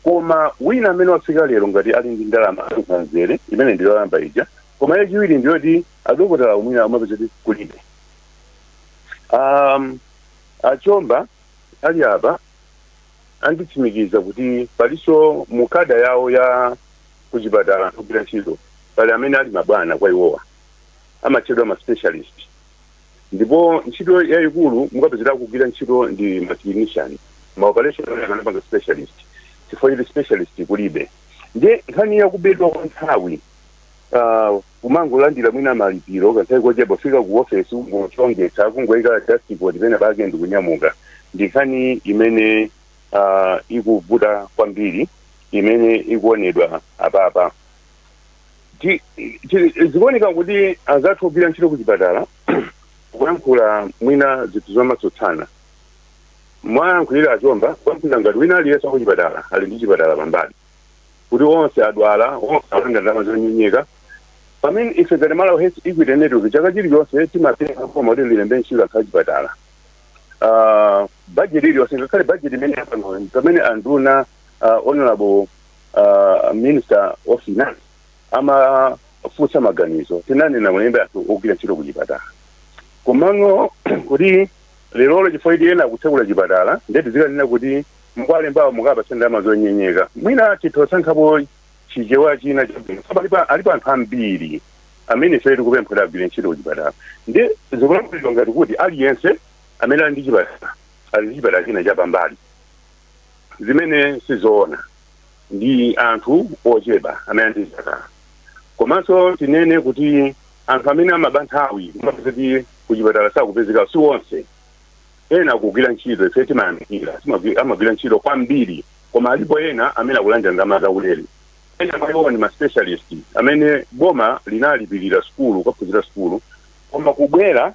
Speaker 4: koma wina amene wafika lero ngati ali ndi ndalama ankhanzere imene ndiyoyamba ija koma yachiwiri ndiyoti adokotalawo mwina amapeza kuti kulibe um, achomba ali apa anditsimikiza kuti palinso mu kada yawo ya kuchipatala ogwira ntchito pali amene ali mabwana kwa iwowa amatchedwa ma specialist ndipo ntchito yayikulu mukapeza akugwira ntchito ndi ma clinician ma operation akanapanga specialist chifukwa choti specialist kulibe ndiye nkhani yakubedwa kwa nthawi ah, Kumangolandira mwina malipiro kanthawi kochepa, kufika ku ofesi kungochongetsa, kungoika dust coat pena pake ndikunyamuka. Ndi nkhani imene uh, ikuvuta kwambiri imene ikuonedwa apapa. Zikuoneka kuti anzathu ogwira ntchito ku chipatala kuyankhula mwina zinthu zomatsutsana mwayankhulira achomba kuyankhulira ngati wina aliyense ku chipatala ali ndi chipatala pambali. kuti onse adwala onse alanda ndalama zonyenyeka pamene ife ngati malawi health equity network chaka chilichonse timapempha boma kuti lilembe ntchito anthu achipatala Ah, budget iliyonse ngakhale budget imene yapanoyo pamene anduna ah, honorable ah, minister of finance amafunsa maganizo tinanena mulembe anthu ogwira ntchito kuchipatala komano kuti lerolo chifukwa kuti ena akutsekula chipatala ndeti zikanena kuti Mukuwalembawo mukawapatse ndalama zonyenyeka. Mwina titha kusankhapo Chichewa china chabwino alipo anthu ambiri amene ifeyo tikupempha kuti agwire ntchito kuchipatala. Ndiye zikulankhulidwa ngati kuti aliyense amene ali ndi chipatala ali ndi chipatala china chapambali zimene si zoona. Ndi anthu ochepa amene ali ndi zipatala. Komanso tinene kuti anthu amene amaba nthawi kumapeza kuti kuchipatala sakupezekawo si onse. Ena akugwira ntchito ife timayamikira, amagwira ntchito kwambiri, koma alipo ena amene akulandira ndalama zaulere. Ena mwa iwowa ndi ma specialist amene boma linalipirira sukulu, kukaphunzira sukulu, koma kubwera,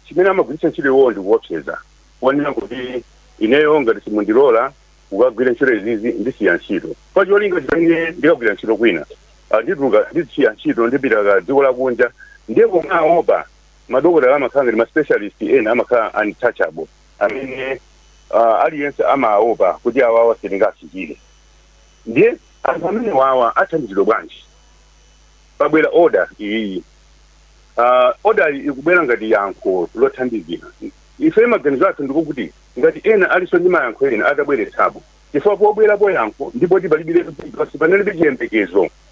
Speaker 4: chimene amagwiritsa ntchito iwowo ndi kuopseza, ponena kuti ineyo ngati simundilola kukagwira ntchito izizi, ndisiya ntchito. Pa cholinga choti ine ndikagwira ntchito kwina, ndituluka, ndisiya ntchito, ndipita ku dziko lakunja. Ndiye boma aopa. madokotala amakhala ngati ma specialist ena amakhala untouchable amene uh, aliyense amaopa kuti awawa sitingafikire ndiye anthu amene wawa athandizidwa bwanji pabwera order iyiyi uh, order iyi ikubwera ngati yankho lothandizira ife maganizo athu ndiko kuti ngati ena alinso ndi mayankho ena atabweretsapo chifukwa pobwerapo yankho ndi poti palibiretu paliponse panalibe chiyembekezo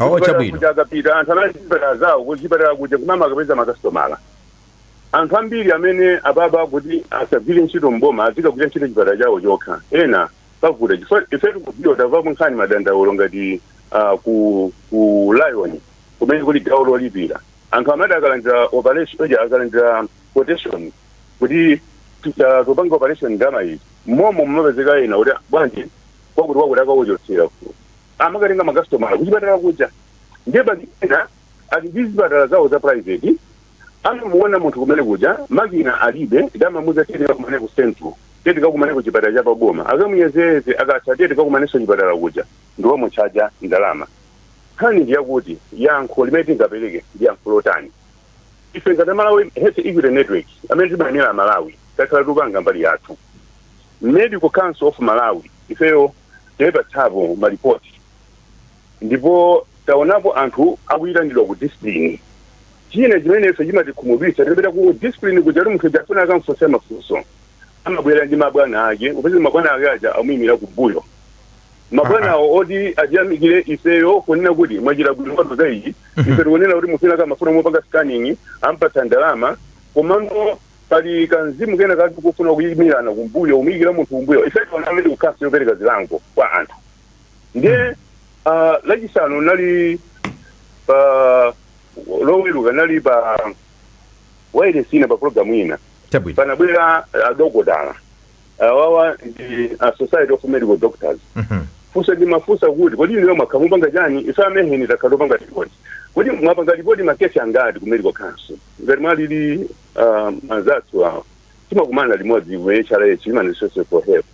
Speaker 4: Oh, Kuchipatala chabwino.
Speaker 1: kuja akapita anthu
Speaker 4: anali kuchipatala zawo kuchipatala kuja kumama akapeza makasitomala anthu ambiri amene apapa kuti asagwire ntchito mboma azikagwira ntchito chipatala chawo chokha ena pavuta chifukwa ife tikudziwa tamvapo nkhani madandaulo ngati ah, ku ku lion kumene kuli gawo lolipira anthu amati akalandira operation oja akalandira quotation kuti tuta- tupanga operation ndama iyi momo mumapezeka ena kuti bwanji kwakuti kwakuti akauchotsera amakatenga makasitomala kuchipatala kuja ndiye ena ali ndi zipatala zawo za private amamuona munthu kumene kuja makina alibe ndi amamuuza tiye tikakumane ku central tiye tikakumane ku chipatala cha paboma akamuyezeze akatha tiye tikakumanenso chipatala kuja ndi wamutchaja ndalama nkhani ndi yakuti yankho limene tingapereke ndi yankho lotani ife ngati malawi health equity network amene timayimira amalawi takhala tikupanga mbali yathu medical council of malawi ifeyo taipatsapo malipoti ndipo taonapo anthu akuyitanidwa ku discipline china chimene ife chimatikhumudwitsa tipita ku discipline kuja kuti munthu uja afuna akamfunsa mafunso amabwera ndi mabwana ake kupeza mabwana ake aja amuyimira kumbuyo mabwanawo oti atiyamikire ifeyo kunena kuti mwachita bwino mwatiuza iyi ife tikunena kuti munthu wina akamafuna mopanga scanning ampatsa ndalama komano Pali ka mzimu kena kake kofuna kuyimirana kumbuyo, kumuyikira munthu kumbuyo. medical council yopereka zilango kwa anthu. Ndiye mm. uh, lachisanu nali pa uh, loweruka nali pa wailesi ina pa programu ina panabwera adokotala uh, awawa uh, ndi a uh, society of medical doctors mm -hmm. funso ndimafunsa kuti kodi inuyo mwakhala mupanga chani ife a mhen takhala topanga ripoti kodi mwapanga ripoti makesi angati ku medical council ngati mwalili uh, anzathu awo timakumana limodzi ku hrh human resources for health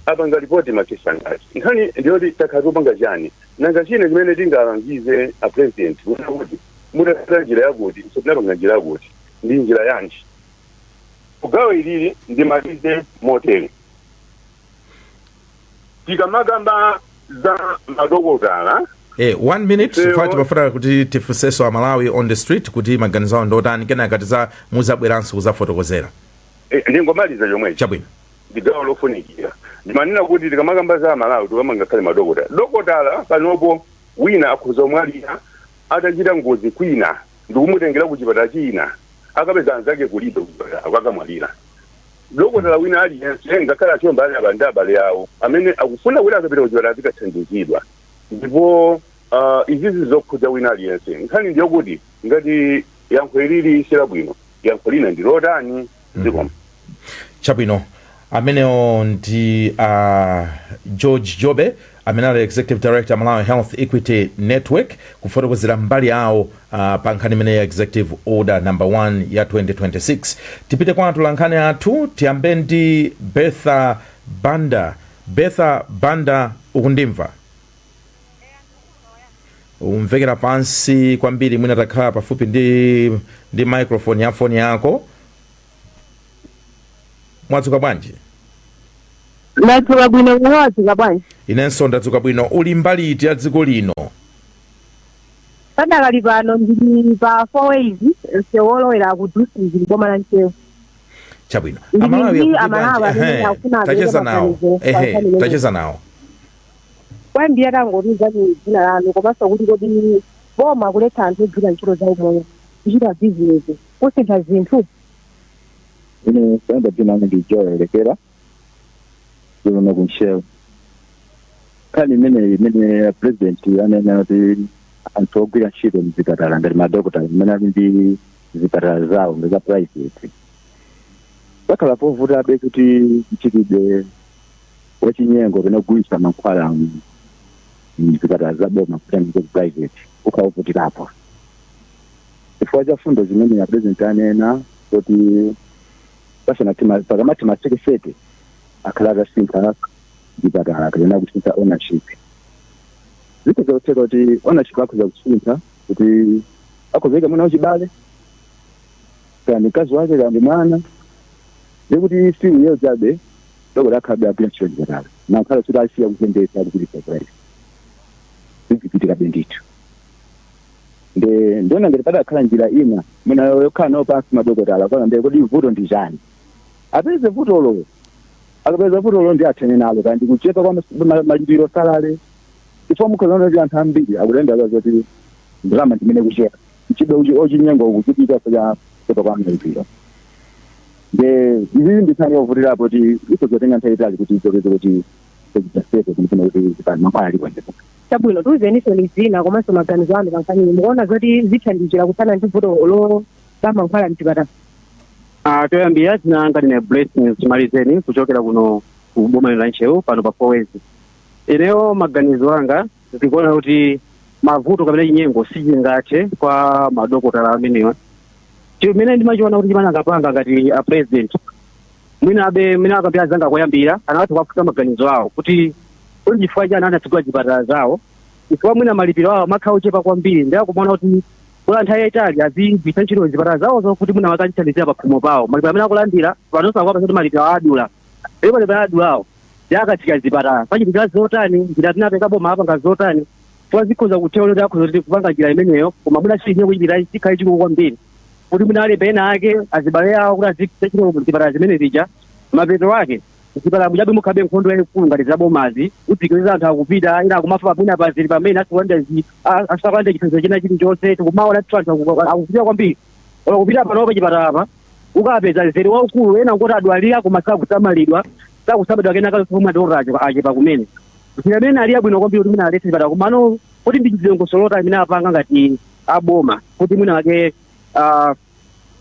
Speaker 4: apanga ripoti makesi angati nkhani ndiyoti takhala tikupanga chani nanga china chimene tingalangize a president kunena kuti mutapita njira yakuti ife tinapanga njira yakuti ndi njira yanji mugawo ilili ndimalize motere tikamakamba za madokotala Eh,
Speaker 1: one minute Ifeyo- chifukwa timafuna kuti tifunseso amalawi on the street kuti maganizo awo ndiotani kenaka tiza muzabweranso kuzafotokozera eh,
Speaker 4: ndingomaliza
Speaker 1: chomwecho chabwino ndi
Speaker 4: gawo lofunikira ndimanena kuti tikamakamba za amalawi tikukamba ngakhale madokotala dokotala panopo wina akhoza kumwalira atachita ngozi kwina ndikumutengera ku chipatala china akapeza anzake kulibe kuchipatala akamwalira Dokotala wina aliyense, ngakhale achiwawa ali ndi abale awo amene akufuna kuti akapita kuchipatala azikathandizidwa ndipo izizi zokhudza wina aliyense. Nkhani ndiyokuti ngati yankho ilili silabwino yankho lina ndi lotani? Zikomo. Chabwino,
Speaker 1: amenewo ndi a George Jobe amene ali Executive Director Malawi Health Equity Network kufotokozera mbali yawo ah, pa nkhani imene ya Executive Order number 1 ya 2026 tipite kwa atolankhani athu tiyambe ndi Bertha Banda Bertha Banda ukundimva ukumvekera pansi kwambiri mwina utakhala pafupi ndi ndi microphone ya foni yako mwadzuka
Speaker 5: bwanji ndadzuka bwino mwadzuka bwanji inenso ndadzuka
Speaker 1: bwino uli mbali iti ya dziko lino padakali
Speaker 5: pano ndili pa four ways msewu wolowera ku dusi boma la Ntcheu
Speaker 1: chabwino Ndili amalawi ndi akuti Amalawi bwanji? amene Ehe, akufuna abwere tacheza nawo maganizo pa ehe nkhani tacheza
Speaker 5: nawo kwambiri tangotiuzani dzina lanu komanso kuti kodi boma kuletsa anthu ogwira ntchito za umoyo kuchita bizinesi kusintha
Speaker 6: zinthu? Ine kaye dzina langu ndi Joel Lekera wa kuno ku Ntcheu. Nkhani imeneyi imene a president anena kuti anthu ogwira ntchito mzipatala ngati madokotala amene ali ndi zipatala zawo ngati za private zakhala zovutabe kuti mchitidwe wachinyengo kapena kugulitsa mankhwala mu- mzipatala za boma kupita nawo ku private kukhala kovutirapo chifukwa cha fundo zimene a president anena kuti pasanati ma- pakamatha masiku sete akhale atasintha chipatala kapena kusintha ownership zikhoza kutheka kuti ownership akhoza kusintha kuti akhoza ika mwana wachibale kaya ndi mkazi wake kaya ndi mwana ndikuti si uyeyo chabe dokotala akhalabe akugwira ntchito chipatala nakhala kuti asiya kutenga kupititsa ku private zizichitika bendithu nde ndiona ngati padakhala njira ina mwina yokhala nawo pansi madokotala kuona nde kodi vuto ndi chani apeze vutolo akapeza vutolo ndi athane nalo kaya ndi kuchepa kwa mas- ma- malipiro salale chifukwa mukhoza kuona kuti anthu ambiri akudandaula zoti ndalama ndimene ikuchepa mchitidwe wachinyengo ukuchitika chifukwa cha kuchepa kwa malipiro nde izi ndi nkhani yovutirapo kuti ikhoza kutenga nthawi yaitali kuti ichoke kuti sezitasezo zimafuna kuti zipani mankhwala ali kwenzepo chabwino
Speaker 5: tiuzeniso ni zina komanso maganizo anu pankhaniyi mukuona zoti zithandizira kuthana ndi vuto lo la mankhwala mchipatala Ah,
Speaker 7: toyambira dzina langa ndine blessings chimalizeni kuchokera kuno ku boma la ntcheu pano pa four ways ineyo maganizo anga ndikuona kuti mavuto kapena chinyengo sichingathe kwa madokotala amenewa chimene ndimachiona kuti chimene angapanga ngati a president Mwinabe mwinawake ndi anzanga koyambirira akanatha kuwafunsa maganizo awo kuti kodi chifukwa chani anatsegula zipatala zawo chifukwa mwina malipiro awo amakhala ochepa kwambiri ndi akumaona kuti kwa nthawi yayitali azigwiritsa ntchito zipatala zawozo kuti mwina wake azithandizira pakhomo pawo malipiro amene akulandira panonso akuwapasa kuti malipiro awo adula ndipo malipiro awo adulawo ndi akatseka zipatala pazichitika zotani njira imene boma apanga zotani chifukwa zikhoza kutheka kuti akhoza kuti kupanga njira imeneyo koma mwina chili chine chichipita chikhale chikulu kwambiri kuti mwina alibe ena ake azibale awo kuti azigwiritsa ntchito zipatala zimene zija mapeto ake zipatala muja mukhalabe nkhondo yayikulu ngati zabomazi udzikiza anthu akupita ina akumafa pamene apazili pamene asikulanda asikulanda chithandizo china chilichonse tikumaona tithu anthu aku- akupita kwambiri olo kupita pano pa chipatala apa ukapeza mzere waukulu ena oti adwalika koma sakusamalidwa sakusamalidwa kena kalikonse madokotala achepa kumene njira imene ali yabwino kwambiri kuti mwina aletse zipatala komano kuti ndi dongosolo lotani limene apanga ngati aboma kuti mwina wake ah,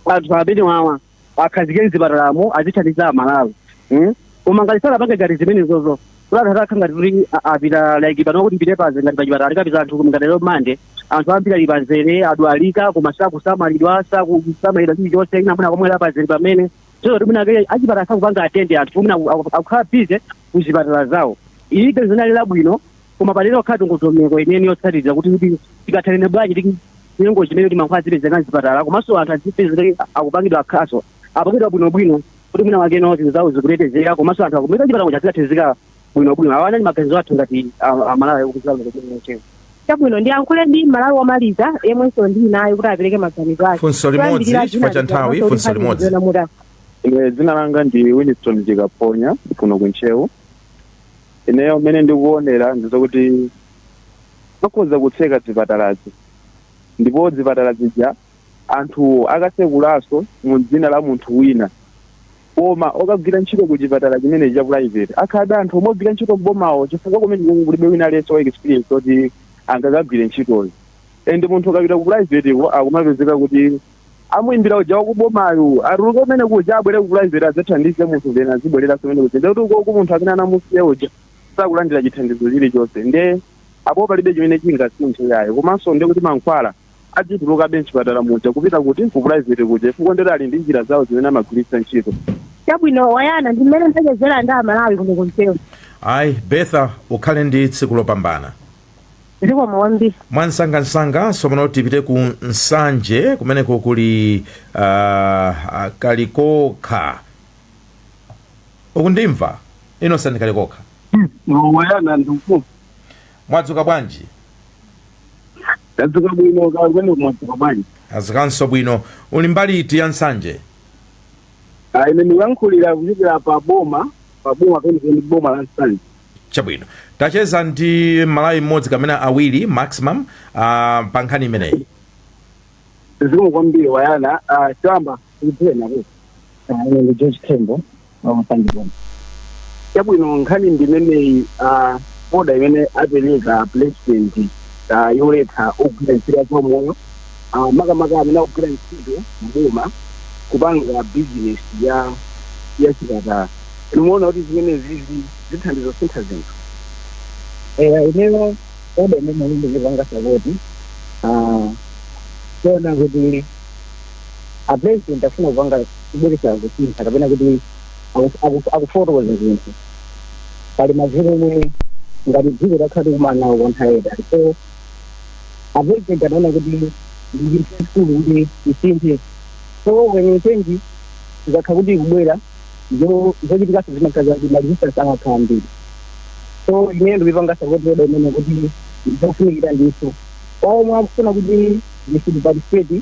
Speaker 7: anthu amene wawa akhazikike mzipatalamo azithandiza amalawi Mm? koma ngati sanapange ngati zimenezozo kulathatakha ngati kuti a- apita like pano kuti mpite panja ngati pachipatala tikapita anthu ngati lero mande anthu ambiri ali pamzere adwalika koma sakusamalidwa sakusamalidwa chilichonse ina mwina kumwalira pamzere pamene Tsono kuti mwina kaya achipatala sakupanga attend anthu mwina aku- aku- akukhala busy ku zipatala zawo. Ili ganizo linali labwino koma pakhale ndondomeko imene yotsatira kuti kodi tikathane bwanji ndi chinyengo chimene kuti mankhwala azipezeka m'zipatala komanso anthu azipezeka akupangidwa akhazapangidwa bwinobwino kuti mwina wakeno zinthu zawo zikutetezeka komanso anthu akapita chipatala kuja zikatheka bwino bwino awa anali maganizo athu ngati a- amalawi okuziwa lero kuti mucheza
Speaker 5: chabwino ndiyankhule ndi mmalawi womaliza yemwenso ndili
Speaker 1: naye kuti apereke maganizo
Speaker 5: ake Funso
Speaker 1: limodzi,
Speaker 5: Choyambirira
Speaker 1: chifukwa
Speaker 5: cha ndinali
Speaker 1: nthawi, kufunsa
Speaker 5: funso kuti
Speaker 1: limodzi. ndikuziona
Speaker 6: muda. Ine dzina langa ndi Winston Chikaphonya kuno ku Ntcheu. Ineyo mmene ndikuonera ndi zokuti akhoza kutseka zipatalazi ndipo zipatala zija anthuwo akatsekulanso mu dzina la munthu wina Koma okagwira ntchito ku chipatala chimenechi cha private akhalabe anthu omwe ogwira ntchito m'bomawo chifukwa kumeneko kulibe wina aliyense wa experience oti angakagwire ntchitoyo and munthu ukapita ku private ko akumapezeka kuti amuimbira uja wakubomayu atuluke kumene kuja abwere ku private adzathandize munthu then azibwereranso kumene kuja ndekuti ukoku munthu amene anamusiya uja sakulandira chithandizo chilichonse nde apo palibe chimene chingasinthe yayi komanso ndekuti mankhwala adzitulukabe m'chipatala muja kupita kuti? Ku private kuja chifukwa ndoti ali ndi njira zawo zimene amagwiritsa ntchito. Chabwino
Speaker 5: Wayana, ndi mmene ndachezera ndi Amalawi kuno ku Ntcheu. Ayi, Bertha,
Speaker 1: ukhale ndi tsiku lopambana. Zikomo
Speaker 5: kwambiri.
Speaker 1: mwansangansanga tsopano tipite ku nsanje kumeneko kuli uh, uh, kalikokha ukundimva Innocent Kalikokha Wayana
Speaker 7: ndikufunsa
Speaker 1: Mwadzuka bwanji?
Speaker 7: Tadzuka bwino kaya kumeneko mwadzuka bwanji? Tadzukanso bwino.
Speaker 1: Uli mbali iti ya Nsanje?
Speaker 7: Ah, ine ndikuyankhulira kuchokera pa boma pa boma penipeni boma la Nsanje.
Speaker 1: Chabwino. Tacheza ndi Mmalawi mmodzi kapena awiri maximum uh, pa nkhani imeneyi.
Speaker 7: Zikomo kwambiri wayana ah, choyamba Tikudziweni kuti ah, ine ndi
Speaker 6: George Tembo wa pa Nsanje
Speaker 7: Boma. Chabwino nkhani ndi imeneyi ah, oda imene apereka president ah, yoletsa ogwira ntchito ya zaumoyo ah, makamaka amene akugwira ntchito mboma kupanga business ya ya chipatala. Mukuona kuti zimenezizi zithandiza sintha zinthu. Eh,
Speaker 6: ineyo oda imeneyi ndikupanga sapoti ah, kuona kuti a president afuna kupanga kubweretsa kusintha kapena kuti aku- aku- akufotokoza zinthu pali mavuto omwe ngati dziko takhala tikumana nawo kwa nthawi yaitali so a president anaona kuti ndi chinthu chachikulu kuti isinthe so when change ikakha kuti ikubwera zo- zochitikaso zimakha zakuti maresistance amakhala ambiri so ine ndikupanga sapoti oda imeneyi kuti zofunikira ndithu omwe akufuna kuti ndisiparticipate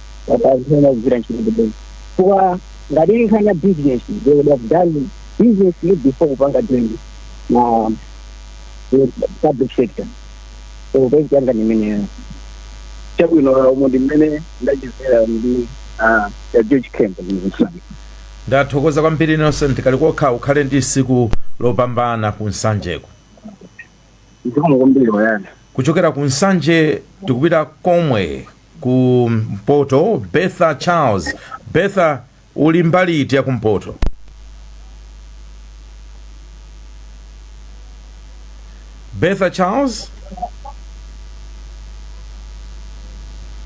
Speaker 6: akazipanga kugwira ntchito mboma chifukwa ngati ili nkhani ya business they would have done business before kupanga join na eh, public sector so point yanga ni imeneyo chabwino umo ndi mmene ndachezera ndi ah, a george tembo kuno ku nsanje ndathokoza
Speaker 1: kwambiri innocent kalikokha ukhale ndi tsiku lopambana ku nsanjeko
Speaker 7: zikomo kwambiri wayana kuchokera ku
Speaker 1: nsanje tikupita komwe ku mpoto betha charles betha uli mbali iti ya kumpoto betha charles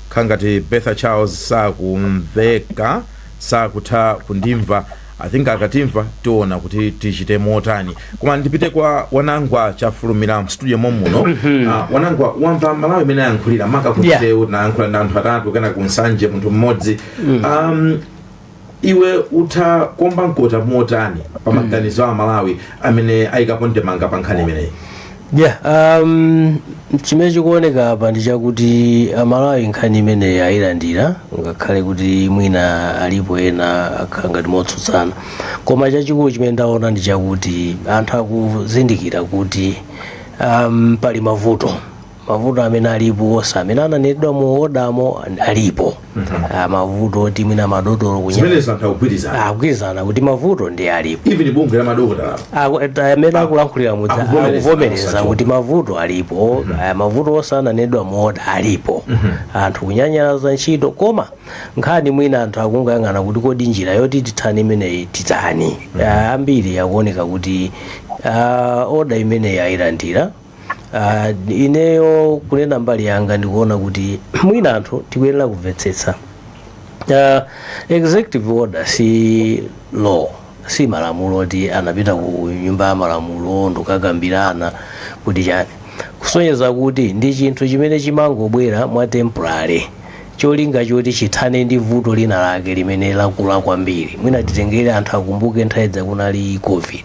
Speaker 1: khangati betha charles sakumveka sakutha kundimva I think akatimva tiona kuti tichite motani koma ndipite kwa wanangwa chafulumira mstudio momuno uh, wanangwa wamva amalawi amene ayankhulira maka ku Ntcheu tinayankhula ndi anthu atatu kena kunsanje munthu mmodzi um, iwe utha kuomba mkota motani pa maganizo a amalawi amene ayikapo ndemanga pa nkhani imeneyi yeah
Speaker 2: um, chimene chikuoneka apa ndi chakuti amalawi nkhani imeneyi ayilandira ngakhale kuti mwina alipo ena akhala ngati motsutsana koma chachikulu chimene ndaona ndi chakuti anthu akuzindikira kuti um, pali mavuto mavuto amene alipo onse amene ananenedwa mu odamo alipo Ah, mavuto oti mwina madotolo kunya zimenezo anthu akugwirizana akugwirizana kuti mavuto ndi alipo even bungwe la
Speaker 1: madokotala Aku- ta- amene
Speaker 2: akulankhulira mudza akuvomereza, akuvomereza akusachoka. kuti mavuto alipo aya mavuto onse ananenedwa mu oda alipo anthu kunyanyalaza ntchito koma nkhani mwina anthu akungoyang'ana kuti kodi njira yoti tithane imeneyi titani Ah, ambiri akuoneka kuti ah, oda imeneyi ayilandira Ah, ineyo kunena mbali yanga ndikuona kuti mwina anthu tikuyenera kumvetsetsa uh, executive order si law si malamulo oti anapita ku nyumba ya malamulo ndikukakambirana kuti chani kusonyeza kuti ndi chinthu chimene chimangobwera mwa temporary cholinga choti chithane ndi vuto lina lake limene lakula kwambiri mwina titengere anthu akumbuke nthawi idza kunali covid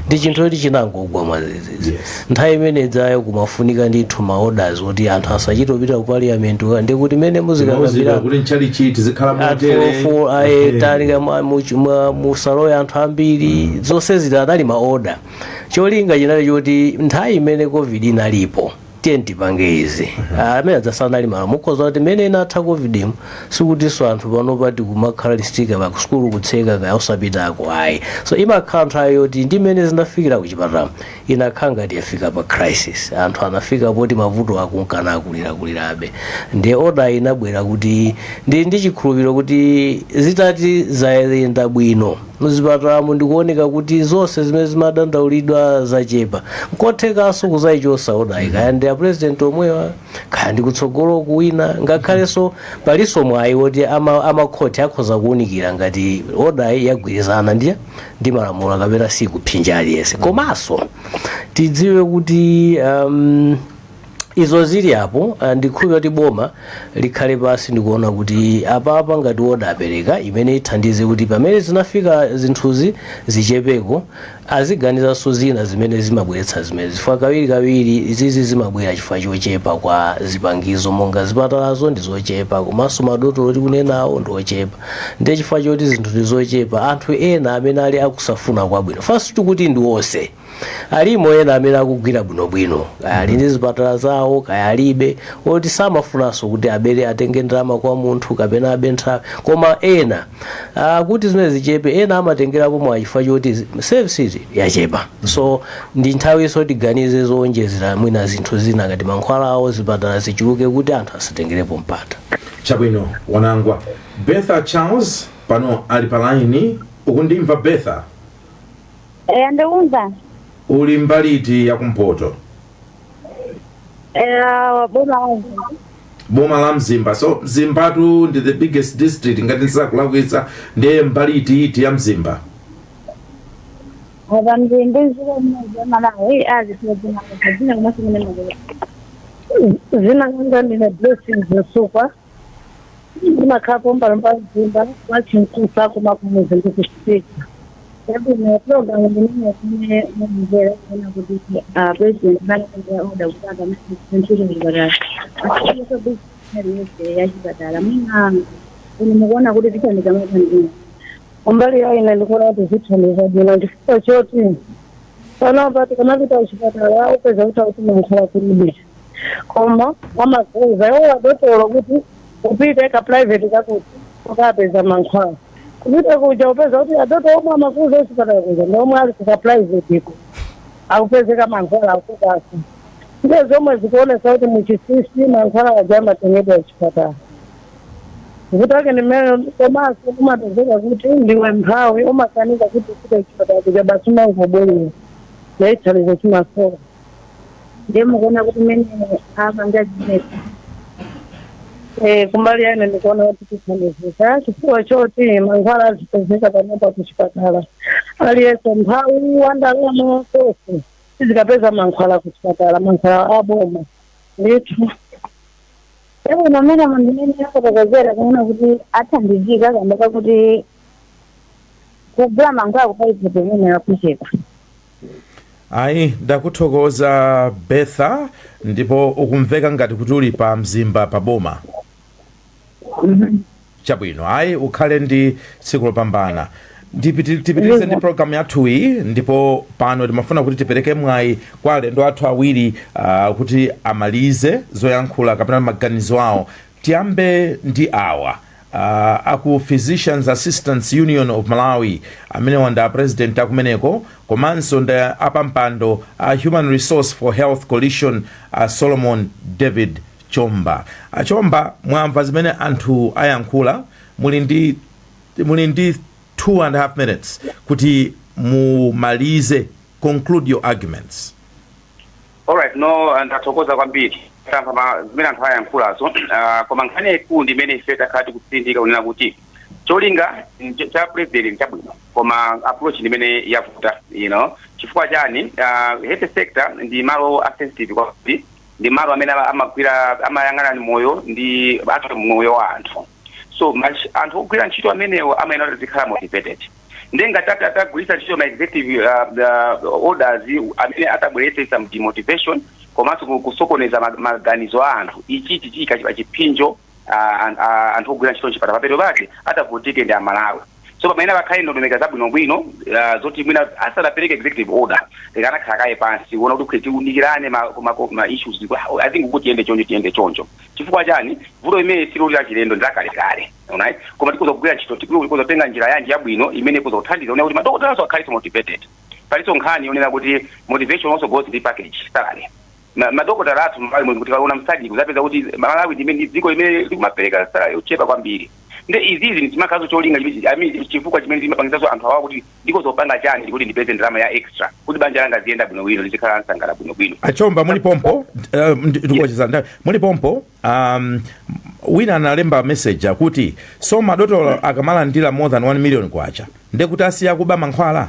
Speaker 2: ndi chinthu choti chinangogwa mwazizizi Yes. nthawi imene idzayo kumafunika ndithu ma orders kuti anthu asachite kupita ku parliament wa- ndi kuti mene Muzikira muzikakambirana kuti
Speaker 1: mchalichi tizikhala motere atfuloful
Speaker 2: aye talika mwa- much- mwa- musalowe anthu ambiri zonse zija anali maoda cholinga chinali choti nthawi imene covid inalipo tiyeni tipange izi Ah, amene aja sanali malamulo mukhoza kuti mmene inatha covid mu sikutinso anthu panopa tikumakhala 6 feet apart sukulu kutseka kaya osapitako ayi so imakhala nthawi yoti ndi mmene zinafikira kuchipatala inakhala ngati yafika pa crisis anthu anafika poti mavuto akunka nakulirakulirabe nde oda inabwera kuti ndi ndi chikhulupiriro kuti zitati zayenda bwino Muzipatalamu ndikuoneka kuti zonse zimene zimadandaulidwa zachepa. Nkothekanso kuzaichosa odayi kaya ndi apresident omwewa kaya ndi kutsogolo kuwina ngakhalenso palinso mwayi woti ama, amakhoti akhoza kuunikira ngati odayi yagwirizana ndi ndi malamulo kapena sikupsinja aliyense. Komanso tidziwe kuti um, izo zili apo ah, ndikhulupira kuti boma likhale pansi ndikuona kuti apapa ngati oda apereka imene ithandize kuti pamene zinafika zinthuzi zichepeko aziganizanso zina zimene zimabweretsa zimene chifukwa kawiri kawiri izizi zimabwera chifukwa chochepa kwa zipangizo monga zipatalazo ndi zochepa komanso madotolo tikunenawo ndi ochepa ndiye chifukwa choti zinthu ndi zochepa anthu ena amene ali osafuna kwabwino sitikuti ndi onse alimo ena amene akugwira bwinobwino kaya ali ndi zipatala zawo kaya alibe oti samafunanso kuti abere atenge ndalama kwa munthu kapena abe nthawi koma ena ah, kuti zimene zichepe ena amatengerapo mwachifukwa choti service yachepa so ndi nthawi yoti tiganize zowonjezera mwina zinthu zina ngati mankhwala awo zipatala zichuluke kuti anthu asatengerepo mpata chabwino
Speaker 1: wanangwa betha charles pano ali pa laini ukundimva betha Eya
Speaker 8: ndikumva. Uli mbali
Speaker 1: iti ya kumpoto? Eya boma wangu. Boma la Mzimba. So Mzimbatu ndi the biggest district ngati sindikulakwitsa ndiye mbali iti iti ya Mzimba. Apa mzimbe ziko mmozi wa Malawi azitozina
Speaker 5: kuzina kumasi mene mazela. Zina kanga ndine blessings Zisukwa. ndimakhala Mbalachanda Mzimba wachinkusa koma kumudzi ndikusitika chabwino programu imene mukumvera kuona kuti ah, president anakhazikitsa oda kuti akamachita ntchito chipatala asiye bizinesi yonse ya chipatala mwina inu mukuona kuti zithandiza motani kumbali yanu ine ndikuona kuti zithandiza bwino chifukwa choti panopa tikamapita kuchipatala ukupeza kuti akuti mankhwala kulibe koma amakuuza iwo adokotala kuti upite ka private kakuti ukapeza mankhwala kupita kuja ukupeza kuti adokotala omwe amakuuza kuchipatala kuja ndi omwe ali ku private ko akupezeka mankhwala akupatsa ndiye zomwe zikuonetsa kuti mwachinsinsi mankhwala aja amatengedwa kuchipatala kuti ake ndi mmene komanso umapezeka kuti ndiwe mphawi umakanika kuti ufike kuchipatala kuja basi umangobwerera ndi thandizo limasowa ndiye mukuona kuti mmene apanga zimenezi Eh, kumbali yanga ndikuona kuti tithandizika chifukwa choti mankhwala azipezeka panopa kuchipatala aliyense mphawi wandalama tonse tizikapeza mankhwala kuchipatala mankhwala aboma ndithu ewe mwamva mmene afotokozera kuona kuti athandizika kamba kakuti kugula mankhwala ku private imene yakucheka
Speaker 1: ayi ndakuthokoza betha ndipo ukumveka ngati kuti uli pa mzimba pa boma chabwino ayi ukhale ndi tsiku lopambana tipiti- tipitirize ndi programu yathu iyi ndipo pano timafuna kuti tipereke mwayi kwa alendo athu awiri ah, kuti amalize zoyankhula kapena maganizo awo Tiyambe ndi awa a ku Physicians Assistants Union of Malawi, amenewa ndi a President a kumeneko komanso ndi apampando a Human Resource for Health Coalition a Solomon David Chomba. A Chomba, mwamva zimene anthu ayankhula, muli ndi muli ndi 2 and half minutes kuti mumalize, conclude your arguments.
Speaker 3: Alright, no, ndathokoza kwambiri tamva ma- zimene anthu ayankhulazo uh, koma nkhani yaikulu ndi imene ife takhala tikutsindika kunena kuti cholinga nch- cha president ndi chabwino koma approach ndi imene yavuta you know chifukwa chani uh, health sector ndi malo a sensitive kwambiri ndi malo amene ama- amagwira amayang'anana ndi moyo ndi athu moyo wa anthu so much anthu ogwira ntchito amenewo amayenera kuti azikhala motivated ndiye ngati ati atagwiritsa ntchito ma executive uh, uh, orders amene atabweretse some demotivation komanso ku- kusokoneza ma- maganizo a anthu ichi chiika chi- chiphinjo uh, an- uh, anthu ogwira ntchito mchipatala mapeto ake atavutike ndi amalawi so pamayenera pakhale ndondomeko zabwinobwino ah, zoti mwina asanapereke executive order tikanakhala kaye pansi kuona kuti kwe tiunikirane ma, ma, ma issues kuti, ah, i think kuti tiyende choncho tiyende choncho chifukwa chani vuto limeneli siloti lachilendo ndilakalekale right koma tikutha kugwira ntchito tikutha kutenga njira yanji yabwino imene ikutha kuthandiza kuona kuti madokotalawaso akhale motivated palinso nkhani yonena kuti motivation also goes ndi package salary ma- madokotala athu m'malawi muno mutakaona mu SADC mudzapeza kuti malawi ndi imene- ndi dziko limene likumapereka salary yochepa kwambiri nde izizi ndizimakhalaso cholinga chimene- I mean, chifukwa chimene zimapangitsaso anthu awa kuti ndikoza kupanga chani kuti ndipeze ndalama ya extra kuti banja langa liziyenda bwinobwino lizikhala losangalala bwinobwino achomba muli
Speaker 1: pompo eh, ndi- ndikuwatchera nthawi muli pompo um, wina analemba message akuti so madotolo akamalandira more than 1 million kwacha ndekuti asiya kuba mankhwala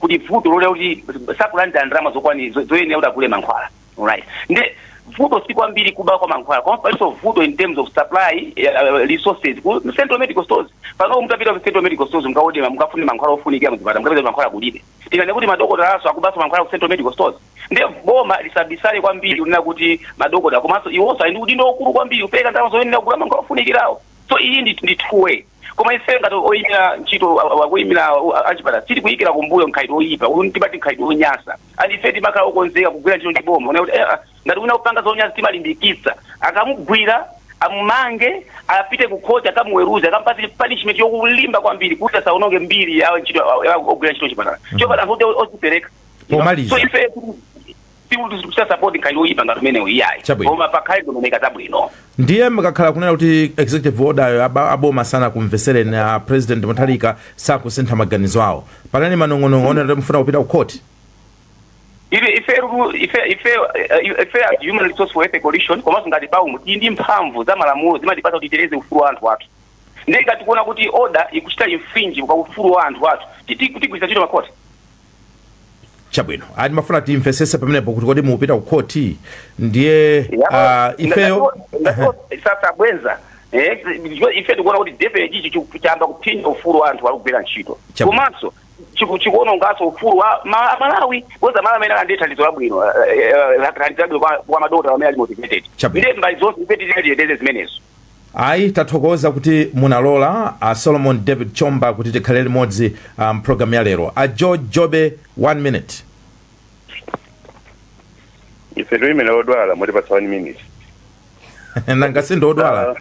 Speaker 3: kuti vuto ndi loti sakulandira ndalama zokwani zo- zoyenera kuti agule mankhwala alright nde vuto si kwambiri kuba kwa mankhwala koma palinso vuto in terms of supply uh, resources ku central medical stores pano mutapita ku central medical stores mukawodere ma- mukafune mankhwala ofunikira muzipata mukapeza kuti mankhwala kulibe tikanene kuti madokotalawaso akubaso mankhwala ku central medical stores nde boma lisabisale kwambiri kunena kuti madokotala komanso iwonso ali ndi udindo waukulu kwambiri kupereka ndalama zoyenera kugula mankhwala ofunikirawo so iyi ndi ndi two way koma ife ngati oyimira ntchito a- a- akuyimira a- achipatala sitikuyikira kumbuyo mkhalidwe oyipa uyu timati mkhalidwe onyasa and ife timakhala okonzeka kugwira ntchito ndi boma kuona kuti eh, ah, ngati wina akupanga zonyasa timalimbikitsa akamugwira amumange apite ku khoti akamuweruze akampatse punishment yokulimba kwambiri kuti asaononge mbiri ya ntchito ya- ya ogwira ntchito mchipatala chifukwa anthu oti ozipereka Pomaliza. so ife sikuti tikuchita support mkhalidwe woyipa ngati umenewu iyayi Chabwino. koma pakhale ndondomeko zabwino ndiye
Speaker 1: mukakhala kunena kuti executive order-yo aba- aboma sanakumvesereni a president Mutharika sakusintha maganizo awo panali manong'onong'o onena kuti mufuna kupita ku court
Speaker 3: ife ife ru- ife ife eh, ife a human resources for health coalition komanso ngati paumu tili ndi mphamvu za malamulo zimatipatsa kuti titeteze ufulu wa anthu athu ndiye ngati tikuona kuti order ikuchita infringe pa ufulu wa anthu athu titi- tigwiritsa ntchito makoti
Speaker 1: chabwino ayi timafuna timvesese pamenepo kuti kodi mupita ku khoti ndiye ah, ifeyo
Speaker 3: sasa bwenza eh, ndicho ife tikuona kuti definitely ichi chikuyamba kuphinja ufulu wa anthu akugwira ntchito Chabu. komanso chiku- chikuononganso ufulu wa ma- malawi bwenza malawi amene alandire thandizo labwino eh, eh, thandizo labwino kwa- kwa madokotala amene ali motivated Chabu. ndiye mbali zonse ife titiyeteze zimenezo
Speaker 1: Ayi tathokoza kuti munalola a Solomon David Chomba kuti tikhale limodzi ah, m'programu ya lero. A George Jobe 1 minute. ife
Speaker 4: ndimene odwala mutipatsa one
Speaker 1: minute Nanga sindodwala.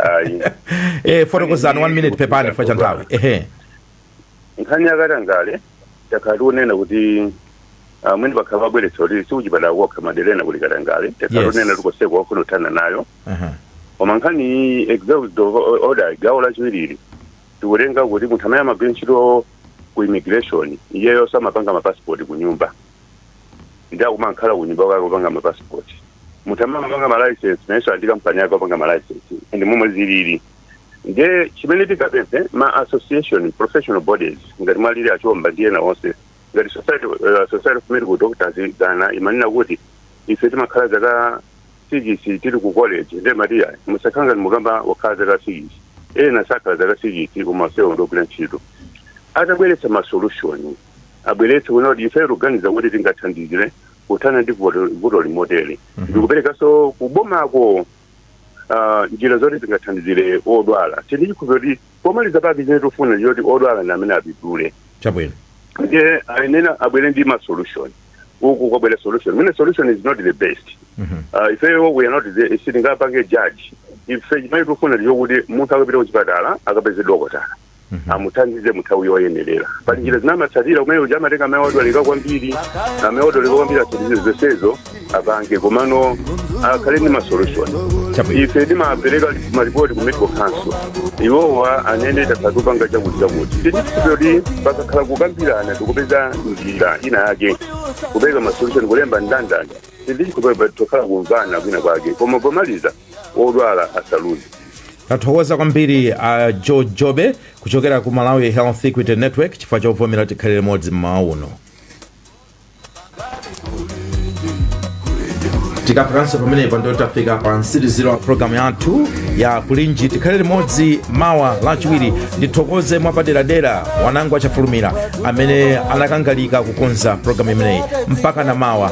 Speaker 1: ayi Eh fotokozani 1 minute pepani chifukwa cha nthawi. Ehe.
Speaker 4: nkhani ya katangale takhala tikunena kuti amene pakhala pabweretsa kuti sikuchipatala kokha madera ena kuli katangale takhala Yes. tikunena tikoseko wafuna kuthana nayo Aha. koma nkhani iyi executive order gawo lachiwiri tikutenga kuti munthu amene amagwira ntchito ku immigration iyeyo samapanga mapasipoti ku nyumba ndi akumakhala ku nyumba kwake kupanga mapasipoti munthu amene amapanga malicense nayenso ali ndi kampani yake opanga malicense ndi momwe zilili nde chimene tingapemphe ma association professional bodies ngati mwa alili achomba ndi ena onse ngati society, uh, society of medical doctors dzana imanena kuti ife timakhala zaka sikisi tili ku college nde tiyeni musakhala ngati okhawo okhala zaka sikisi ena sakhala zaka sikisi komanso ndogwira ntchito atabweretsa ma solution abweretse kunena kuti ife tikuganiza kuti tingathandizire kuthana ndi vuto vuto ili motere ndikuperekanso kubomako ah, njira zoti zingathandizire odwala tili ndi chikhulupiriro kuti pomaliza pake chimene tikufuna ndi choti odwala ndi amene apindule chabwino
Speaker 1: ndiye
Speaker 4: ayenera abwere ndi ma solution uku kwabwera solution mwina solution is not the best Mhm. Ah, ifeyo we are not the sitingapange judge ife chimene tikufuna ndi chokuti munthu akapita kuchipatala akapeze dokotala Mhm. amuthandize muthawi yoyenerera pali njira zimene amatsatira kumene uja amatenga amene wadwalika kwambiri amene wadwalika kwambiri atsatire zonsezo apange komano akhale ndi masolution Chabwino. ife timapereka maripoti ku medical council iwowa anene takhala tupanga chakuti chakuti ndi ripoti pakakhala kukambirana tikupeza njira ina yake kupereka masolution kulemba ndandanda ndithu tokhala kumvana kwina kwake koma pomaliza wodwala asaluze
Speaker 1: tathokoza kwambiri a uh, george jobe kuchokera ku malawi health equity network chifukwa chovomera tikhale limodzi mmawa uno tikafikanso pamenepa ndiye tafika pa mtsiliziro wa programu yathu ya kulinji tikhale limodzi mawa lachiwiri ndithokoze mwapaderadera wanangwa chafulumira amene anakangalika kukonza programu imeneyi mpaka na mawa